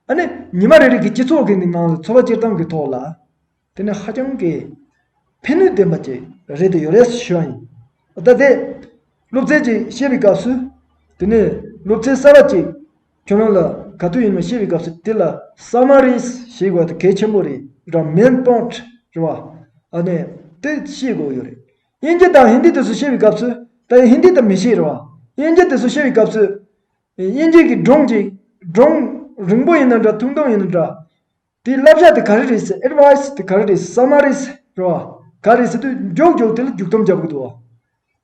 ཨ་ནི་ཉི་མ་རེ་རེ་གི་སྤྱི་ཚོགས་ཀི་ནང་ལ་འཚོ་བ་སྐྱེལ་སྟངས་ཀི་ཐོག་ལ། དེ་ནི་ཧ་ཅང་གི་ཕན་ནུས་ལྡན་པ་ཅིག་རེད་དེ་ཡོད་རེད་བྱུང། ད་ལྟའི་སློབ་ཚན་ཅིག་བཤད་པའི་སྐབས་སུ། དེ་ནི་སློབ་ཚན་གསར་བ་ཅིག་ཁྱོད་རང་ལ་ག་དུས་ཡིན་ནོ་བཤད་པའི་སྐབས་སུ་དེ་ལ Summaries ཞེས་བ་དེ་གལ་ཆེན་པོ་རེད་ར Main Point ཞེས་བ་ནི་དེ་ཤེས་དགོས་ཡོད་རེད། དབྱིན་ཇི་དང་ཧིན་དི་དུས་སུ་བཤད་པའི་སྐབས་སུ་ད་ཡིན་ཧིན་དི་དང་མི་ཤེས་ར་བ་དབྱིན་ཇི་དུས་སུ་བཤད་པའི་སྐབས་སུ་དབྱིན་ཇི་གི་སྒྲུང་ཅིག་སྒྲུང་རིང་པོ་ཡིན་ན་འདྲ་ཐུང་ཐུང་ཡིན་ན་འདྲ་དེའི་བསླབ་བྱ་དེ་ག་རེ་རེད་ཟེར Advice དེ་ག་རེ་རེད་ཟེར་བསམ་མ་རེད་ཟེར་རེད་བ། ག་རེད་ཟེར་དུས་མགྱོགས་མགྱོགས་དེ་ལ་རྒྱུགས་སྡོམ་རྒྱབ་དགོས་འདུག་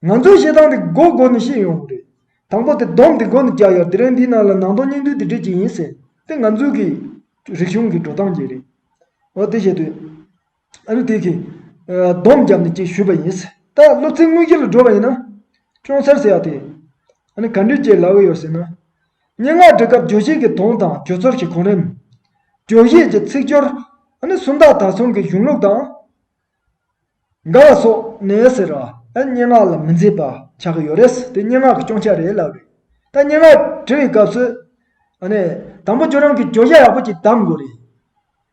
བ། ང་ཚོའི་བཤད་སྟངས་དེ་མགོ་མགོ་ནས་ཤེས་ཡོང་དགོས་རེད། དང་པོ་དེ་སྡོམ་དེ་མགོ་ནས་རྒྱག་ཡག་དེ་རིང་འདིའི་ནང་ལ་ནང་དོན་སྙིང་བསྡུས་དེ་འབྲི་གི་ཡིན་ཟེར་དེ་ང་ཚོའི་གི་རིག་གཞུང་གི་འགྲོ་སྟངས་གྱིས་རེད་བ། དེ་བཤད་དུས། ཨ་རུ་ཐེ་གིས། སྡོམ་བརྒྱབ་ནས་ཅིག་ཞུས་པ་ཡིན། ད་སློབ་ཚན་དངོས་གཞི་ལ་འགྲོ་བ་ཡིན་ན། ཅུང་སེར་སེར་ཡག་དེ། ཨ་ནི་ག་འདྲིའི་ལྗད་ལགས་ཡོད་ཟེར་ན། སྙན་ངག་འབྲི་སྐབས་བརྗོད་གཞི་གི་དོན་དང་བརྗོད་ཚོར་གྱི་གོ་རིམ། བརྗོད་གཞི་གྱི་ཚིག་སྦྱོར། ཨ་ནི་སུམ་རྟགས་དག་གསུམ་གྱི་གཞུང་ལུགས་དང། འགའ་བ་སོགས་ནས་ཟེར། ཨ་སྙན་ངག་ལ་མི་མཛེས་པ་ཆགས་ཀྱི་ཡོད་རེད། དེ་སྙན་ངག་གི་སྐྱོན་ཆ་རེད་ལབ་རེད། ད་སྙན་ངག་བྲི་བའི་སྐབས་སུ། ཨ་ནི། དང་པོ་ཁྱོད་རང་གིས་བརྗོད་བྱ་ཡག་པོ་ཅིག་གདམ་དགོས་རེད།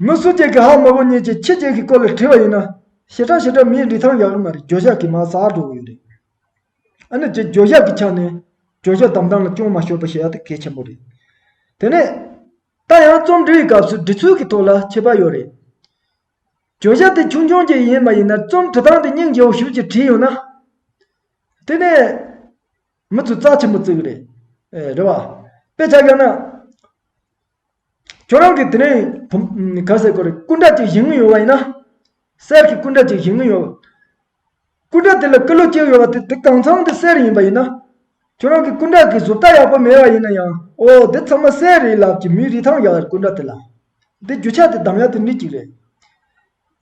མི་སུ་གཅིག་གིས་ཧ་མོ་བོ་གཉིས་ཀྱིས་ཁྱི་གཅིག་གི་སྐོར་ལ་བྲིས་པ་ཡིན་ན། ཞེ་དྲག་ཞེ་དྲག་མིའི་ལི་ཐང་ཡག་རེད་མ་རེད་འགྱོད་བཤགས་ཀྱིས་མ་ཟག་འགྲོ་གི་ཡོད་རེད། ཨ་ནི་འགྱོད་བཤགས་ཀྱི་ཆ་ནས་འགྱོད་བཤགས་དམ་བསྒྲགས་ལ་ཅུང་མ་ཤོར་པ་ཞེ་ཡག་ཏུ་གལ་ཆེན་པོ་རེད། དེ་ནས། ད་ཡང་རྩོམ་འབྲི་ཡི་སྐབས་སུ་འབྲི་ཚུལ་གྱི་ཐོག་ལ་ཁྱད་པར་ཡོད་རེད། འགྱོད་བཤགས་དེ་ཆུང་ཆུང་གཅིག་ཡིན་མ་ཡིན་ན་རྩོམ་བྲི་སྟངས་དེ་སྙིང་རྗེ་བོ་བཞུགས་ཀྱིས་བྲིས་ཡོད་ན། དེ་ནས། མི་ཚོས་རྩ་ཆེན་པོ་བརྩི་གི་རེད། རེད་བ། དཔེ་ཆ་ཡོད་ན། ཁྱོད་རང་གིས་དེ་རིང་ག་ཟེར་དགོས་རེད་སྐུ་འདྲ་གཅིག་བཞེངས་ངེས་ཡོད་པ་ཡིན་ན། གསེར་གྱི་སྐུ་འདྲ་གཅིག་བཞེངས་ངེས་ཡོད། སྐུ་འདྲ་དེ་ལ་སྐུ་ལུས་གཅིག་ཡོད་པ་དེ་དེ་གང་ཚང་དེ་གསེར་ཡིན་པ་ཡིན་ན། ཁྱོད་རང་གི་སྐུ་འདྲ་གི་གཟུགས་རྟགས་ཡག་པོ་མེད་པ་ཡིན་ན་ཡང་ཨོ་དེ་ཚང་མ་གསེར་རེད་ལབ་ཀྱི་མི་རིགས་ཐང་ཡག་རེད་སྐུ་འདྲ་དེ་ལ། དེ་རྒྱུ་ཆ་དེ་འདམ་ཡག་དེ་འདྲི་གཅིག་རེད།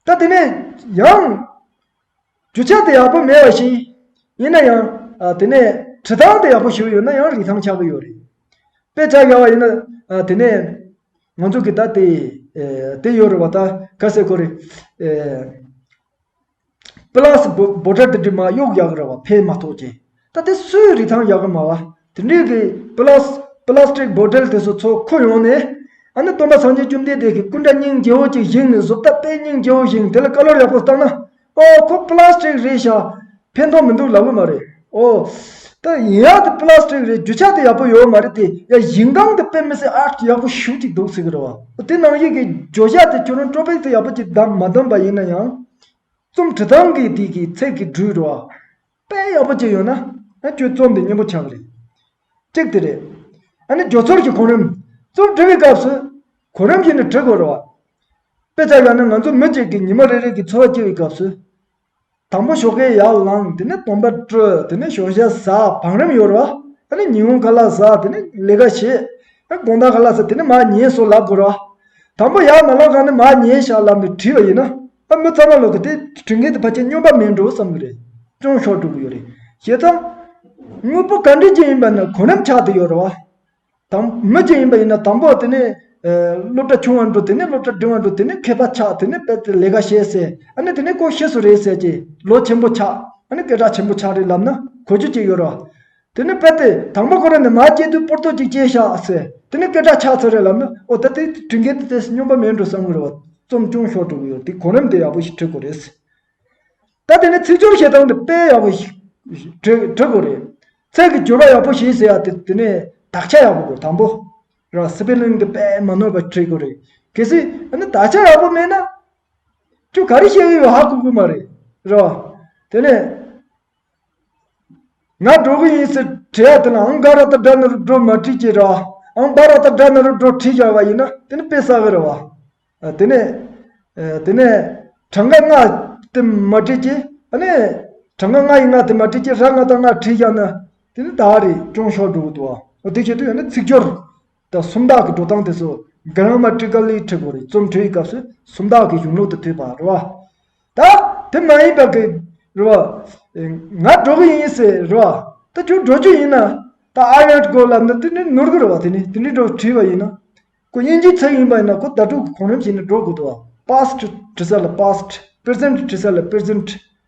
ད་དེ་ནས་ཡང། རྒྱུ་ཆ་དེ་ཡག་པོ་མེད་བ་ཞིག་ཡིན་ན་ཡང། དེ་ནས་བྲི་ཐང་དེ་ཡག་པོ་བཞུར་ཡོད་ན་ཡང་རིག་ཐང་ཆགས་ཀྱི་ཡོད་རེད། དཔེ་ཆ་ཡག་བ་ཡིན་ན། དེ་ནས་ང་ཚོ་གིས་ད་དེ་དེ་ཡོད་རེད་བ་ད་ག་ཟེ་གོ་རེད། པི་ལགས་སུ་འབོ་འབོ་སྒྲ་དེ་འདྲི་མ་གཡོག་ཡག་རེད་བ་ཕན་མ་ཐོག་ཅེས། ད་ལྟ་སུའི་རིགས་ཐང་ཡག་གི་མ་བ་དེ་འདྲས་ཀྱི་པི་ལ་པི་ལ་སྟིག་སྦོ་ཏིལ་དེ་ཚོ་ཚོ་ཁོ་ཡོང་ནས་ཨ་ནི་སྟོན་པ་སངས་རྒྱས་བཅོམ་ལྡན་འདས་ཀྱི་སྐུ་འདྲ་སྙིང་རྗེ་བོ་ཅིག་བཞེངས་ནས་གཟུགས་ད་པའི་སྙིང་རྗེ་བོ་བཞེངས་དེ་ལ་བཀའ་སློབ་ཡག་པོ་བཏང་ན་ཨོ་ཁོ་པི་ལ་སྟིག་རེད་ཤག་ཕན་ཐོག་མི་འདུག་ལབ་གི་མ་རེད་ཨོ། ད་ཡིན་ཡག་དེ་པི་ལ་སྟིག་རེད་རྒྱུ་ཆ་དེ་ཡག་པོ་ཡོད་མ་རེད་དེ་ཡ་ཞིང་ཁང་དེ་དཔེ་མི་སྲིད་ཨ་ཡག་པོ་ཞུ་ཅིག་འདུག་ཟེར་གི་རེད་བ་ཨོ་དེ་ནང་ཡིག་གི་བརྗོད་བྱ་དེ་ཁྱོད་རང་སྤྲོ་ཕེག་དེ་ཡག་པོ་ཅིག་མ་བདམས་པ་ཡིན་ན་ཡང་རྩོམ་བྲི་སྟངས་གི་དེ་གི་ཚད་ཀྱི་འགྲུས་རེད་བ། དཔེ་ཡག་པོ་གཅིག་ཡོད་ན་ཁྱོད་རྩོམ་འདི་སྙན་པོ་ཆགས་གི་རེད། གཅིག་དེ་རེད། ཨ་ནི་འཇོག་ཚོར་གྱི་གོང་རིམ་རྩོམ་འབྲི་བའི་སྐབས་སུ་གོ་རིམ་ཞིག་ནས་བྲི་དགོས་རེད། དཔེ་ཆ་ཡག་ན་ང་ཚོ་མི་གཅིག་གིས་ཉི་མ་རེ་རེ་གི་འཚོ་བ་སྐྱེལ་བའི་སྐབས་སུ། དང་པོ་ཞོགས་ཁའི་ཡར་ལངས་དེ་ནས་དོམ་པ་བཀྲུ་དེ་ནས་ཞོགས་ཞག་ཟ་བང་རིམ་ཡོད་རེད། ཨ་ནི་ཉི་འོང་ཁ་ལག་ཟ་དེ་ནས་ལས་ཀ་བྱེད། དགོངས་དག་ག་ལ་ཟེར་དེ་ནི་མ་ཉེས་སོགས་ལབ་དགོས་རོགས། དང་པོ་ཡར་མ་ལོག་ག་ནི་མ་ཉེས་ཞག་ལབ་ནས་བྲིས་པ་ཡིན་ན། ཨ་མི་རྩ་མ་ལོག་གི་དེ་བྲི་མཁན་དེ་ཕ་ཁྱེད་སྨྱོན་པ་མིན་འགྲོ་བསམ་གི་རེད། ཅུང་ཞོག་འགྲོ་གི་ཡོད་རེད། ཞེས་དང། དངོས་པོ་ག་འདྲི་ཅན་ཡིན་པ་ནི་གོ་རིམ་ཆགས་དེ་ཡོད་རོགས། དང། མི་ཅན་ཡིན་པ་ཡིན་ན་དང་པོ་དེ་ནི། སློབ་གྲྭ་ཆུང་བར་འགྲོ་དེ་ནི་སློབ་གྲྭ་འབྲིང་བར་འགྲོ་དེ་ནི་མཁས་པ་ཆགས་དེ་ནི་དཔེ་ལས་ཀ་བྱེད་ཟེར་ཨ་ནི་དེ་ནི་ཀོ་ཤེས་སུ་རེད་ཟེར་གྱི་ལོ་ཆེན་པོ་ཆགས་ཨ་ནི་སྐད་གྲགས་ཆེན་པོ་ཆགས་རེད་ལབ་ན་གོ་རྒྱུ་གཅིག་ཡོད་རོགས། དེ་ནས་པེ་ཏེ་དང་པོ་ཁོ་རང་ནས་མ་སྐྱེས་དུས་པོར་ཏོ་ཅིག་སྐྱེས་ཤག་ཟེར་དེ་ནས་སྐད་གྲགས་ཆགས་ཚར་རེད་ལབ་ན་ཨོ་ད་དེ་དྲིན་རྒན་དེ་དེས་སྨྱོན་པ་མེད་འགྲོ་བསམ་གི་རེད་བ། རྩོམ་ཅུང་ཞོར་གྲུབ་ཡོད་དེ་གོང་རིམ་དེ་ཡག་པོ་ཞིག་བྲི་དགོས་རེད། ད་དེ་ནས་ཚིག་སྦྱོར་བྱེད་སྟངས་དེ་དཔེ་ཡག་པོ་ཞིག་བྲི་དགོས་རེད། ཚིག་གི་སྦྱོར་བ་ཡག་པོ་ཞིག་ཟེར་ཡག་དེ་དེ་ནས་དག་ཆ་ཡག་པོ་དགོས་དང་པོ་ར Spelling དེ་དཔེ་མ་ནོར་བ་བྲི་དགོས་རེད་གལ་སྲིད་ཨ་ན་དག་ཆ་ཡག་པོ་མེད་ན་ཁྱོད་ག་རེ་བཤད་གི་ཡོད་ཧ་གོ་གི་མ་རེད་རེད་བ། དེ་ནས་ང་འགྲོ་གི་ཡིན་ཟེར་དྲི་བ་དེ་ལ་ཨང་སྒ་ར་ཏཱ་སྦྲ་ནོར་བུ་འགྲོ་མ་བྲིས་ཀྱི་ར་ཨང་སྦ་ར་ཏཱ་སྦྲ་ནོར་བུ་འགྲོ་བྲིས་བཞག་པ་ཡིན་ན་དེ་ནི་དཔེ་གསར་བའི་ར་བ། དེ་ནས། དེ་ནས། གྲངས་ཀ་ལྔ་དེ་མ་བྲིས་ཀྱི་ཨ་ནི། གྲངས་ཀ་ལྔ་ཡི་ལྔ་དེ་མ་བྲིས་ཀྱི་ར་ལྔ་དང་ལྔ་བྲིས་བཞག་ན་དེ་ནི་ད་རེས་ཅུང་ཞོག་འགྲོ་གི་འདུག་བ་འོ་དེ་བྱས་དུས་ཡང་ན་ཚིག་སྦྱོར། ཟླ་གསུམ་དག་གི་འགྲོ་སྟངས་དེ་ཚོ་རྒན་རང་མ་ཀྲི་ཀ་ལིའི་ཁྲི་བོ་རི་རྩོམ་འཕྲོའི་སྐབས་སུ་སུམ་རྟགས་ཀྱི་གཞུང་ལུགས་དུ་ཐོས་པ་རེད་བ། ད་དེ་མ་ཡིན་པར་གྱི་རེད་བ། ང་འགྲོ་གི་ཡིན་ཟེར་རེད་བ། ད་ཁྱོད་འགྲོ་རྒྱུ་ཡིན་ན། ད་ཨ་ཡང་དགོས་ལབ་ན་དེ་འདྲའི་ནོར་གི་རེད་བ་དེ་ནི་དེ་འདྲའི་འགྲོ་བྲིས་བ་ཡིན་ན། ཁོ་དབྱིན་ཇིའི་ཚིག་ཡིན་པ་ཡིན་ན་ཁོ་ཟླ་དྲུག་གི་གོང་རིམ་བྱས་ནས་འགྲོ་དགོས་འདུག་བ past བྲི་ས་ལ past present བྲི་ས་ལ present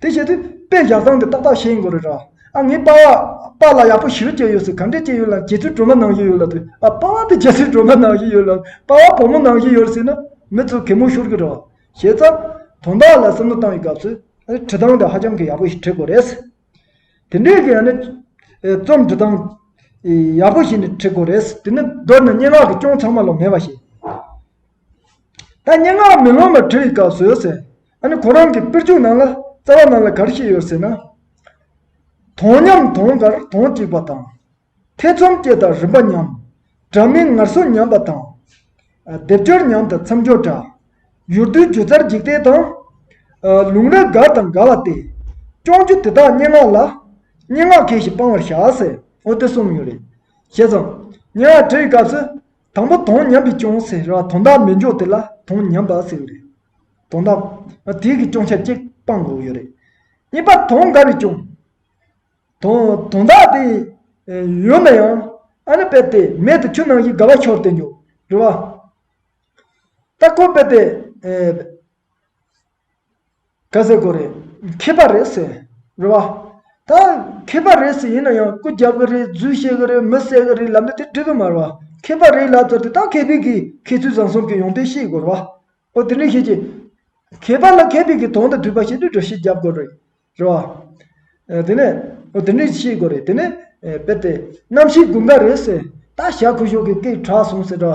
དེ་བྱས་དུས་དཔེ་བཞག་བཟང་དེ་ཏག་ཏག་བཤད་ཡིན་གོ་རེད་ར། ཨ་ངས་པ་པ་ལ་ཡག་པོ་ཞུ་བྱས་ཡོད་ཟེར་ག་འདྲས་བྱས་ཡོད་ལ་རྗེ་བཙུན་སྒྲོལ་མ་ནང་བཞིན་ཡོད་ལ་དུས་ཨ་པ་བ་དེ་རྗེ་བཙུན་སྒྲོལ་མ་ནང་བཞིན་ཡོད་ལ་པ་བ་བུ་མོ་ནང་བཞིན་ཡོད་ཟེར་ན་མི་ཚོས་གད་མོ་ཤོར་གི་རེད། བྱས་ཙང། དོན་དག་ལ་བསམ་བློ་བཏང་བའི་སྐབས་སུ། བྲིས་སྟངས་དེ་ཧ་ཅང་གི་ཡག་པོ་ཞིག་བྲིས་དགོས་རེད། དེ་འདྲས་ཀྱི་ཡང་ན། རྩོམ་འབྲི་སྟངས། ཡག་པོ་ཞིག་ནས་བྲིས་དགོས་རེད། དེ་ནི་མདོར་ན་སྙན་ངག་གི་སྐྱོན་ཚང་མ་ལོ་མེད་པ་ཞིག། ད་སྙན་ངག་མེ་ལོང་ལ་བྲིས་དགའ་བཟོས་ཟེར། ཨ་ནི་ཁོ་རང་གི་དཔེར་བརྗོད་ནང་ལ་རྩ་བ་ནང་ལ་གར་ཤེས་ཡོད་ཟེར་ན། དོང་ཉམས་དོང་གར་དོང་བྲིས་པ་དང། ཐེ་ཚོམ་སྐྱེས་དང་རིམ་པ་ཉམས། སྒྲ་མི་ངར་སོ་ཉམས་པ་དང། སྡེབ་སྦྱོར་ཉམས་དང་མཚམས་སྦྱོར་འདྲ། ཡུར་རྡུལ་སྒྱུ་རྩལ་འཇིག་རྟེན་དང། ལུང་རིགས་དགར་དང་དགའ་བ་སྟེ། སྐྱོང་རྒྱུ་དེ་དག་སྙན་ངག་ལ། སྙན་ངག་གལ་ཞིག་སྤང་བར་བྱ། ཟེར། འོ་དེ་གསུམ་ཡོད་རེད། བྱས་ཙང། སྙན་ངག་བྲིས་དགའ་བཟོས། དང་པོ་དོན་ཉམས་པས་སྐྱོང་ཟེར་ར་དོན་དག་མི་འཇོག་དེ་ལ་དོན་ཉམས་པ་ཟེར་རེད། དོན་དག། དེའི་གི་སྐྱོང་ཆ་གཅིག་སྤང་དགོས་ཡོད་རེད། གཉིས་པ་དོན་འགའ་རེ་སྐྱོང། དོན་དོན་དག་དེ། ཡོད་ན་ཡང། ཨ་ནི་པད་དེ་མེད་དེ་ཆུ་ནང་གི་ག་བ་ཤོར་དེ་འཇོག་རེད་བ། ལྟ་སྐོར་པད་དེ། ག་ཟེ་གོ་རེད། མཁས་པ་རེད་ཟེར། རེད་བ། ད། མཁས་པ་རེད་ཟེར་ཡིན་ན་ཡང་སྐུ་རྒྱབ་གི་རེད་རྫུན་བཤད་གི་རེད་མི་གསད་གི་རེད་ལབ་ན་དེ་འགྲིག་གི་མ་རེད་བ། མཁས་པ་རེད་ལབ་ཚར་དེ་དག་མཁས་པའི་གི་མཁས་ཚུལ་བཟང་གསུམ་གི་ཡོང་དོན་ཤེས་དགོས་རེད་བ། ཨོ་དེ་འདྲ་ཤེས་ཀྱི། མཁས་པ་ལ་མཁས་པའི་གི་དོན་དང་མཐུན་པ་ཤེས་དུས་དྲོ་ཤེས་རྒྱབ་དགོས་རེད། རེད་བ། དེ་ནས་འོ་དེ་འདྲའི་ཆེས་དགོས་རེད་དེ་ནས་དཔེར་དེ། གནམ་གཤིས་དགུན་ཁ་རེད་ཟེར་ད་ཞག་ཁུ་བཞུགས་ཀྱི་སྐད་གྲགས་སོང་ཟེར་ད།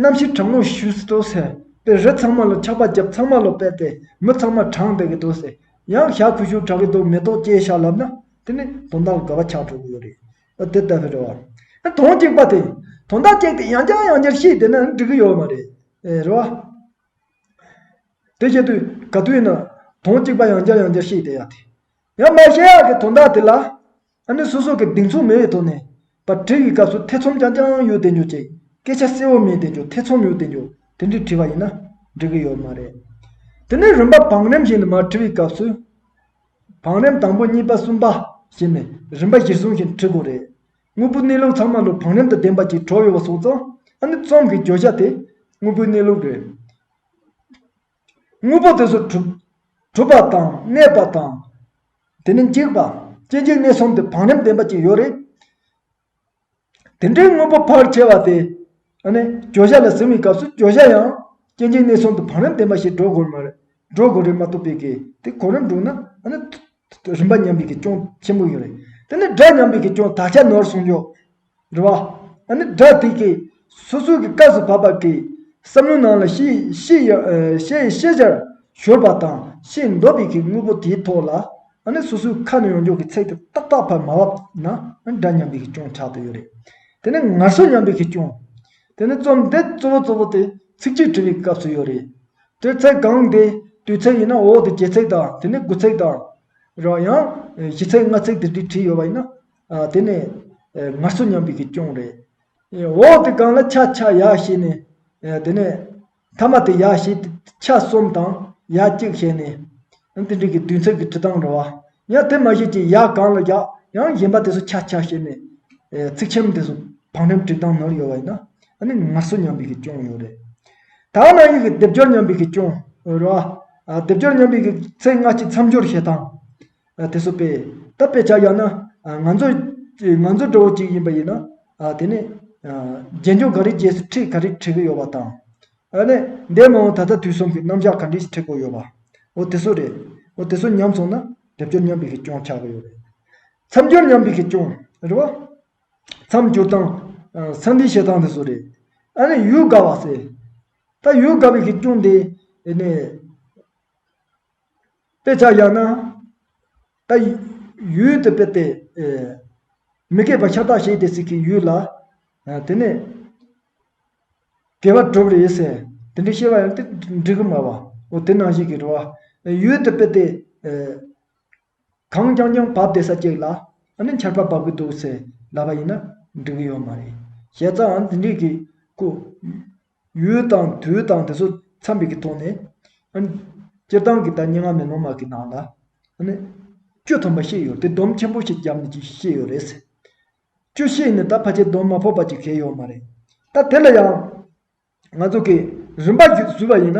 གནམ་གཤིས་གྲང་མོ་ཞུ་སྲིད་དོ་ཟེར་དཔེར་རི་ཚང་མ་ལ་ཆགས་པ་བརྒྱབ་ཚང་མ་ལ་དཔེར་དེ་མི་ཚང་མ་གྲང་བསྡད་ཀྱི་འདུག་ཟེར་ཡང་ཞག་ཁུ་བཞུགས་གྲགས་ཀྱི་འདུག་མེ་ཏོག་སྐྱེས་ཞག་ལབ་ན་དེ་ནས་དོན་དག་ལ་དགའ་བ་ཆགས་འགྲོ་གི་ཡོད་རེད་འོ་དེ་ལྟ་བུ་རེད་བ། ཨ་དོང་སྐྱེགས་པ་དེ་དོང་དག་སྐྱེགས་དེ་ཡང་བསྐྱར་ཡང་བསྐྱར་ཤེས་བསྡད་ན་འགྲིག་གི་ཡོད་མ་རེད། རེད་བ། དེ་བཞིན་དུ་ག་དུས་ན་དོན་གཅིག་པ་ཡང་བསྐྱར་ཡང་བསྐྱར་ཤེས་བསྡད་ཡག་དེ། ཡང་མ་ཤེས་ཡག་གི་དོན་དག་དེ་ལ་ཨ་ནི་སོ་སོ་གི་གདེང་ཚོད་མེད་པའི་ཐོག་ནས་པར་བྲིས་པའི་སྐབས་སུ་ཐེ་ཚོམ་རྐྱང་རྐྱང་ཡོད་བསྡད་འགྱུར་ཅིག་སྐད་ཆ་གསལ་བོ་མེད་བསྡད་འགྱུར་ཐེ་ཚོམ་ཡོད་བསྡད་འགྱུར་དེ་འདྲས་བྲིས་པ་ཡིན་ན་འགྲིག་གི་ཡོད་མ་རེད། དེ་ནས་རིམ་པ་བང་རིམ་བཞིན་དུ་མར་བྲིས་པའི་སྐབས་སུ། བང་རིམ་དང་པོ་གཉིས་པ་གསུམ་པ་བཞིན་ནས་རིམ་པ་གཞིར་བཟུང་བཞིན་བྲིས་དགོས་རེད། དངོས་པོའི་གནས་ལུགས་ཚང་མ་ལུགས་བང་རིམ་དུ་བདེན་པ་གྱིས་གྲོལ་ཡོད་པ་སོགས་ཙང་ཨ་ནི་རྩོམ་གྱི་བརྗོད་བྱ་དེ་དངོས་པོའི་གནས་ལུགས་རེད། དངོས་པོ་དེ་ཚོ་གྲུབ། གྲུབ་པ་དང་གནས་པ་དང། དེ་ནི་འཇིག་པ། སྐྱེ་འཇིག་གནས་གསུམ་དེ་བང་རིམ་བདེན་པ་གཅིག་ཡོད་རེད། དེ་འདྲའི་དངོས་པོ་ཕར་ཁྱེར་བ་དེ་ཨ་ནི་བརྗོད་བྱ་ལ་ཟིན་བའི་སྐབས་སུ་བརྗོད་བྱ་ཡང་སྐྱེ་འཇིག་གནས་གསུམ་དུ་བང་རིམ་བདེན་པ་ཞིག་འགྲོ་དགོས་མ་རེད། འགྲོ་དགོས་རེད་མ་གཏོགས་པའི་གལ་ཏེ་གོ་རིམ་འགྲུག་ན་ཨ་ནི་རིམ་པ་མཉམ་པའི་གེགས་ཅུང་ཆེན་པོ་ཡོད་རེད། དེ་ནི་སྒྲ་མཉམ་པའི་གེགས་ཅུང་དག་ཆ་ནོར་སོང་ཡོད་རེད། བ་ཨ་ནི་སྒྲ་དེ་གས་སོ་སོའི་གི་སྐབས་སུ་བབས་པ་གས་བསམ་བློའི་ནང་ལ་ཤེས་ཤེས་ཡ་ཤེས་ཡི་ཤེས་བྱར་ཤོར་པ་དང་ཤེས་འདོད་པའི་གི་དངོས་པོ་དེའི་ཐོག་ལ་ཨ་ནི་སོ་སོའི་ཁ་ནས་ཡོང་འཇུག་གི་ཚེག་དེ་ཏག་ཏག་བར་མ་བབས་ན་ཨ་ནི་སྒྲ་མཉམ་པའི་གེགས་ཅུང་ཆགས་ཏུ་ཡོད་རེད། དེ་ནི་ངར་སོ་མཉམ་པའི་གེགས་ཅུང། དེ་ནི་རྩོམ་དེབ་གཙོ་བོ་གཙོ་བོ་དེ་ཚིག་གཅིག་བྲི་བའི་སྐབས་སུ་ཡོད་རེད། དུས་ཚིགས་གང་དེ་དུས་ཚིགས་ཡིན་ན་འོག་ཏུ་བརྒྱད་ཚིགས་དང་དེ་ནས་དགུ་ཚིགས་དང། རོ་ཡང་བཞི་ཚིགས་ལྔ་ཚིགས་དེ་དུས་བྲིས་ཡོད་པ་ཡིན་ན། དེ་ནི་ངར་གསོ་སྙམ་པའི་གི་སྐྱོང་རེད། འོག་ཏུ་གང་ལ་ཆ་ཆ་ཡ་ཞེས་ནས། དེ་ནས་མཐའ་མ་དེ་ཡ་ཞེས་ཏེ་ཆ་གསུམ་དང་ཡ་གཅིག་བྱས་ནས། ཡང་དེ་འགྲིག་གི་དུས་མཚན་གྱི་དྲི་དང་རོ། ཡང་དེ་མ་ཞིག་ཅེས་ཡ་གང་ལ་རྒྱག། ཡང་གཞན་པ་དེ་སུ་ཆ་ཆ་ཞེས་ནས། ཚིག་ཆེན་མོ་དེ་སུ་བང་རིམ་བྲིས་སྟངས་ནོར་ཡོད་བ་ཡིན་ན། ཨ་ནི་ངར་སོ་ཉམས་པའི་གི་ཅོང་ཡོད་རེད། ད་ཨ་ན་ཡིག་གི་སྡེབ་སྦྱོར་ཉམས་པའི་གི་ཅོང་རོ། སྡེབ་སྦྱོར་ཉམས་པའི་གི་ཚེ་སྔ་ཕྱི་མཚམས་སྦྱོར་བྱེད་སྟངས། དེ་སུ་དཔེ། ད་དཔེ་ཆ་བཞག་ན། ང་ཚོའི་ང་ཚོའི་འགྲོ་བོ་ཅིག་ཡིན་པ་ཡིན་ན། དེ་ནས། རྗེས་འཇུག་ག་རེ་རྗེས་སུ་ཁྲིད་ག་རེ་ཁྲིད་གི་ཡོད་བ་དང། ཨ་ནེ། འདས་མ་འོངས་ད་ལྟ་དུས་གསུམ་གྱི་རྣམ་གཞག་ག་འདྲི་ཞིག་འཁྲིད་དགོས་ཡོད་པ། འོ་དེ་སུ་རེད། འོ་དེ་སུ་ཉམས་སོང་ན། སྡེབ་སྦྱོར་མཉམ་འབིགས་ཀྱི་སྐྱོན་ཆགས་ཀྱི་ཡོད་རེད། མཚམས་སྦྱོར་མཉམ་འབིགས་ཀྱི་སྐྱོན། རེད་བ། མཚམས་སྦྱོར་སྟངས། མཚམས་འབིགས་བྱེད་སྟངས་དེ་སུ་རེད། ཨ་ནེ། ཡུལ་དགའ་བ་ཟེར། ད་ཡུལ་དགའ་འབིགས་ཀྱི་སྐྱོན་དེ། ཨེ་ནེ། དཔེ་ཆ་གཡར་ན། ད། ཡུལ་དེ་དཔེ་དེ། མི་སྐད་པ་ཤ་སྟག་བཤད་དེ་ཟིག་གི་ཡུལ་ལ། དེ་ནས། དགེ་བ་བསྒྲུབ་རེ་ཟེར། དེ་འདྲའི་ཤེས་པ་ཡང་ཏིག་འབྲི་གི་མ་བ། འོ་དེ་ནང་བཞིན་གྱི་འགྲོ་བ། ཡུལ་དུ་དཔེ་སྟེ། གངས་རྐྱང་རྐྱང་བབས་བདེ་ས་སྐྱེགས་ལ། ཨ་ནི་འཁྱར་པ་འབབ་གི་འདུག་ཟེར་ལབ་པ་ཡིན་ན་འགྲིག་གི་ཡོད་མ་རེད། བཤད་རྩའང་དེ་འདྲིས་གི་ཀུ། ཡུལ་དང་དུས་དང་དེ་ཚོ་འཚམས་པའི་གི་ཐོག་ནས། ཨ་ནི། སྤྱིར་བཏང་གི་ད་སྙན་ངག་མེ་ལོང་མ་གི་ནང་ལ། ཨ་ནི། བཅུ་ཐམ་པ་ཤེས་ཡོད་དེ་སྡོམ་ཆེན་པོ་ཞིག་བརྒྱབ་ནས་ཀྱི་ཤེས་ཡོད་རེད་ཟེར། བཅུ་བཞི་ནི་ད་ཕ་ཆད་གདོན་མ་ཕོག་པ་ཅིག་བྱས་ཡོད་མ་རེད། ད་དེ་ལ་ཡང་ང་ཚོ་གིས་རིན་པ་བཟོས་པ་ཡིན་ན།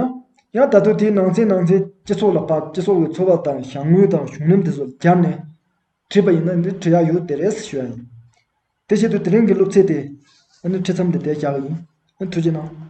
ཡང་ད་དུང་དེའི་ནང་ཚན་ནང་ཚན་སྤྱི་ཚོགས་ལ་ཕབ་སྤྱི་ཚོགས་ཀྱི་འཚོ་བ་དང་བྱ་དངོས་དང་གཞུང་ལམ་དེ་ཚོ་སྦྱར་ནས་བྲིས་པ་ཡིན་ན་འདི་བྲི་ཡག་ཡོད་དེ་རེད་ཞུ་ཡ་ཡིན། དེ་བཞིན་དུ་དེ་རིང་གི་སློབ་ཚན་དེ་ཨ་ནི་ཁྲིད་མཚམས་དེ་དེ་བཞག་ཡིན་ཨ་ཐུགས་རྗེ་གནང།